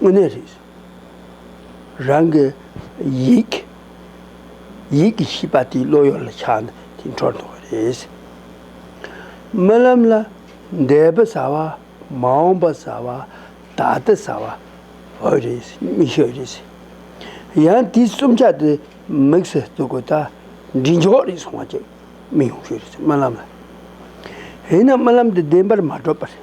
དངོས་གནས་རེད། རང་གི་ཡིག། ཡིག་གི་ཤིས་པ་དེའི་བློ་ཡོད་ལ་ཆགས་ན་དེ་འཕྲོར་འདོགས་པ་རེད། རྨི་ལམ་ལ་འདས་པ་བཟའ་བ་མ་འོངས་པ་བཟའ་བ་ད་ལྟ་བཟའ་བ་བོད་རེད་རྨིས་ཤོས་རེད། ཡང་དེའི་རྩོམ་ཆག་དེ་དམིགས་སུ་བཙུགས་གོ་ད་འབྲི་འཇོག་རེད་སོང་བ་ཅིག་རྨིས་ཡོང་ཤོས་རེད་རྨི་ལམ་ལ། ཡིན་ན་རྨི་ལམ་དེ་བདེན་པར་མ་གྲུབ་པ་རེད།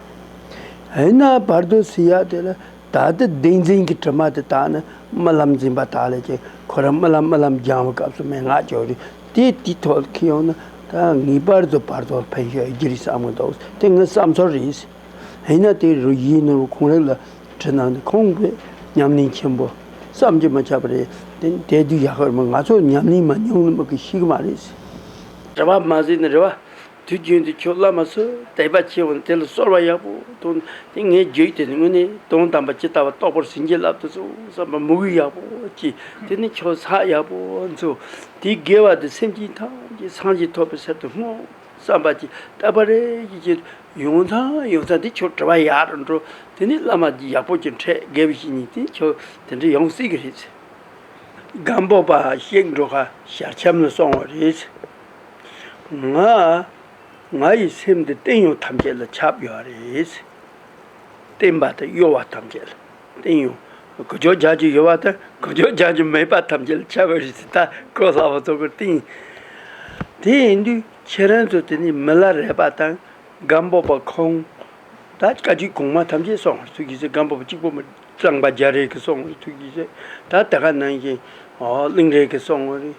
ཡིན་ན་བར་དོའི་སི་ཡ་དེ་ལ་ད་ལྟའི་བདེན་འཛིན་གྱི་དྲི་མ་དེ་དག་ནི་རྨི་ལམ་འཛིན་པ་དག་ལས་ཀྱང་ཁོ་རང་རྨི་ལམ་རྨི་ལམ་སྦྱང་བའི་སྐབས་སུ་མན་ངག་ཅོ་རི་དེ་དེའི་ཐོག་ཏུ་ཁྱེད་ཡོང་ན་ད་ངེས་པར་དུ་བར་དོ་ལ་ཕན་ཤོས་ཡོད་རྒྱུ་རེད་བསམ་གྱི་འདུག་དེ་ངའི་བསམ་ཚོར་རེད། ཡིན་ན་དེ་རུ་ཡིག་ནོར་བུ་གང་རེད་ལ་དྲི་སྣང་དེ་ཁོང་གི་ཉམས་ལེན་ཆེན་པོ་བསམ་གྱིས་མ་ཁྱབ་པ་རེད། དེ་ནི་དེ་དུས་ཡག་ཤོས་རེད་མོད་ང་ཚོས་ཉམས་ལེན་མ་མྱོང་ནི་མི་དགོས་ཤིག་མ་རེད། རེ་བ་མ་ཟོས་ནི་རེ་བ། དུས་རྒྱུན་དུ་ཁྱོད་བླ་མ་ཚོས་དད་པ་ཆེ་བ་ནི་དེ་ལ་གསོལ་བ་ཡག་པོ་གཏོང་དེ་ངས་བརྗོད་དེ་ནི་དངོས་གནས་དོན་དམ་པ་ཇི་ལྟ་བ་རྟོགས་པར་ཟིན་གྱི་ལབ་ཏུ་སོང་བསམ་པ་མུ་གེ་ཡག་པོ་སྐྱེས་དེ་ནི་ཁྱོད་ས་ཡག་པོ་འཚོ། དེའི་དགེ་བ་དེ་སེམས་ཅན་ཐམས་ཅད་སངས་རྒྱས་ཐོབ་པའི་གསེབ་ཏུ་སྔོ་བསམ་པ་ཅི་ལྟ་བ་རེ་ཞིག་སྐྱེས་དུས་ཡོང་ཐང་ཡོང་ཐང་དེ་ཁྱོད་དྲི་བ་ཡག་རུ་འགྲོ་དེ་ནི་བླ་མ་འདི་ཡག་པོ་གྱོན་འཕྲད་དགེ་བ་ཞིག་ཉིད་དེ་ཁྱོད་དེ་འདྲ་ཡོང་སྲིད་གི་རེད། སྒམ་པོ་པ་གཤེགས་འགྲོ་ཁ་ཞར་འཁྱམས་ལ་སོང་བ་རེད། ང། ང་ཡི་སེམས་འདི་བརྟན་གཡོ་ཐམས་ཅད་ལ་ཁྱབ་ཡོད་རེད། བརྟན་པ་དང་གཡོ་བ་ཐམས་ཅད་ལ་བརྟན་གཡོ། གུ་ཅོ་རྒྱག་གི་ཡོད་པ་དང་གུ་ཅོ་རྒྱག་གི་མེད་པ་ཐམས་ཅད་ལ་ཁྱབ་ཡོད་རེད་ཅེས་ཐག་གོ་སླ་བོ་ཚོགས་པའི་སྟེང། དེ་ཡིན་དུས་ཁྱེད་རང་ཚོ་དེ་ནས་མི་ལ་རས་པ་དང་སྒམ་སྦོག་པ་ཁོང། ད་བཀའ་སྤྱི་གོང་མ་ཐམས་ཅད་སོང་བར་ཐུག་གི་ཟེར་སྒམ་སྦོག་པ་གཅིག་པོ་མི་གཙང་པ་རྒྱ་རིགས་ཀྱི་སོང་བར་ཐུག་གི་ཟེར་ད་དེ་ག་ནང་བཞིན་གླིང་རིགས་ཀྱི་སོང་བ་རེད།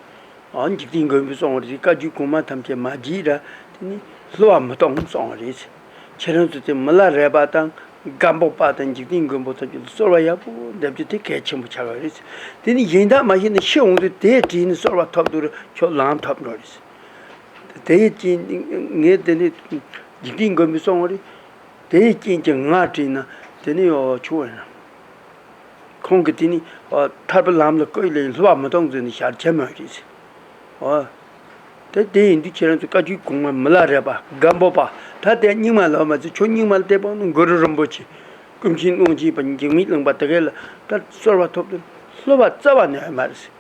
འཇིག་རྟེན་མགོན་པོས་སོང་བ་རེད་བཀའ་རྒྱུད་གོང་མ་ཐམས་ཅད་མ་བགྱིས་ར་དེ་ནི་ལྷུ་བ་མི་གཏོང་སོང་བ་རེད། ཁྱེད་རང་ཚོ་དེ་མི་ལ་རས་པ་དང་སྒ་འབོག་པ་དང་འཇིག་རྟེན་མགོན་པོ་ཚོ་རྒྱུད་ལ་གསོལ་བ་ཡག་པོ་འདེབས་རྒྱུ་དེ་གལ་ཆེན་པོ་ཆགས་ཡོད་རེད། དེ་ནི་གཞན་དག་མ་ཤེས་ན་ཤི་འོང་དུས་དེས་བྲིས་ནས་གསོལ་བ་ཐོབ་འདུག་ར་ཁྱོད་ལང་ཐོབ་འགྲོ་རེད། དེའི་རྐྱེན་ངས་དེ་ནི་འཇིག་རྟེན་མགོན་པོས་སོང་བ་རེད། དེའི་རྐྱེན་གྱིས་ང་བྲིས་ན་དེ་ནི་ཡོ་བྱུང་བ་ཡིན། ཁོང་གིས་དེ་ནི་ཐར་པའི་ལམ་ལ་བཀོད་ལེགས་ལྷུ་བ་མི་གཏོང་ཚུལ་ནི་ཞར་བྱེད་མ་རེད་ཟེར། དེ་ཡིན་དུས་ཁྱེད་རང་ཚོས་བཀའ་ཁྲིའི་གོང་མ་མི་ལ་རས་པ་སྒམ་སྦོ་པ་ད་ལྟའི་རྙིང་མ་ལ་བ་མ་ཚད་ཁྱོད་རྙིང་མ་ལ་དད་པ་ནི་མགུར་རུ་རིན་པོ་ཆེ་ཀུན་མཁྱེན་ཀློང་ཆེན་པ་འཇིགས་མེད་གླིང་པ་དེ་གའི་ལ་དར་གསོལ་བ་ཐོབ་དོན་ལྷུ་བ་རྩ་བ་ནས་ཡོད་མ་རེད་ཟེར།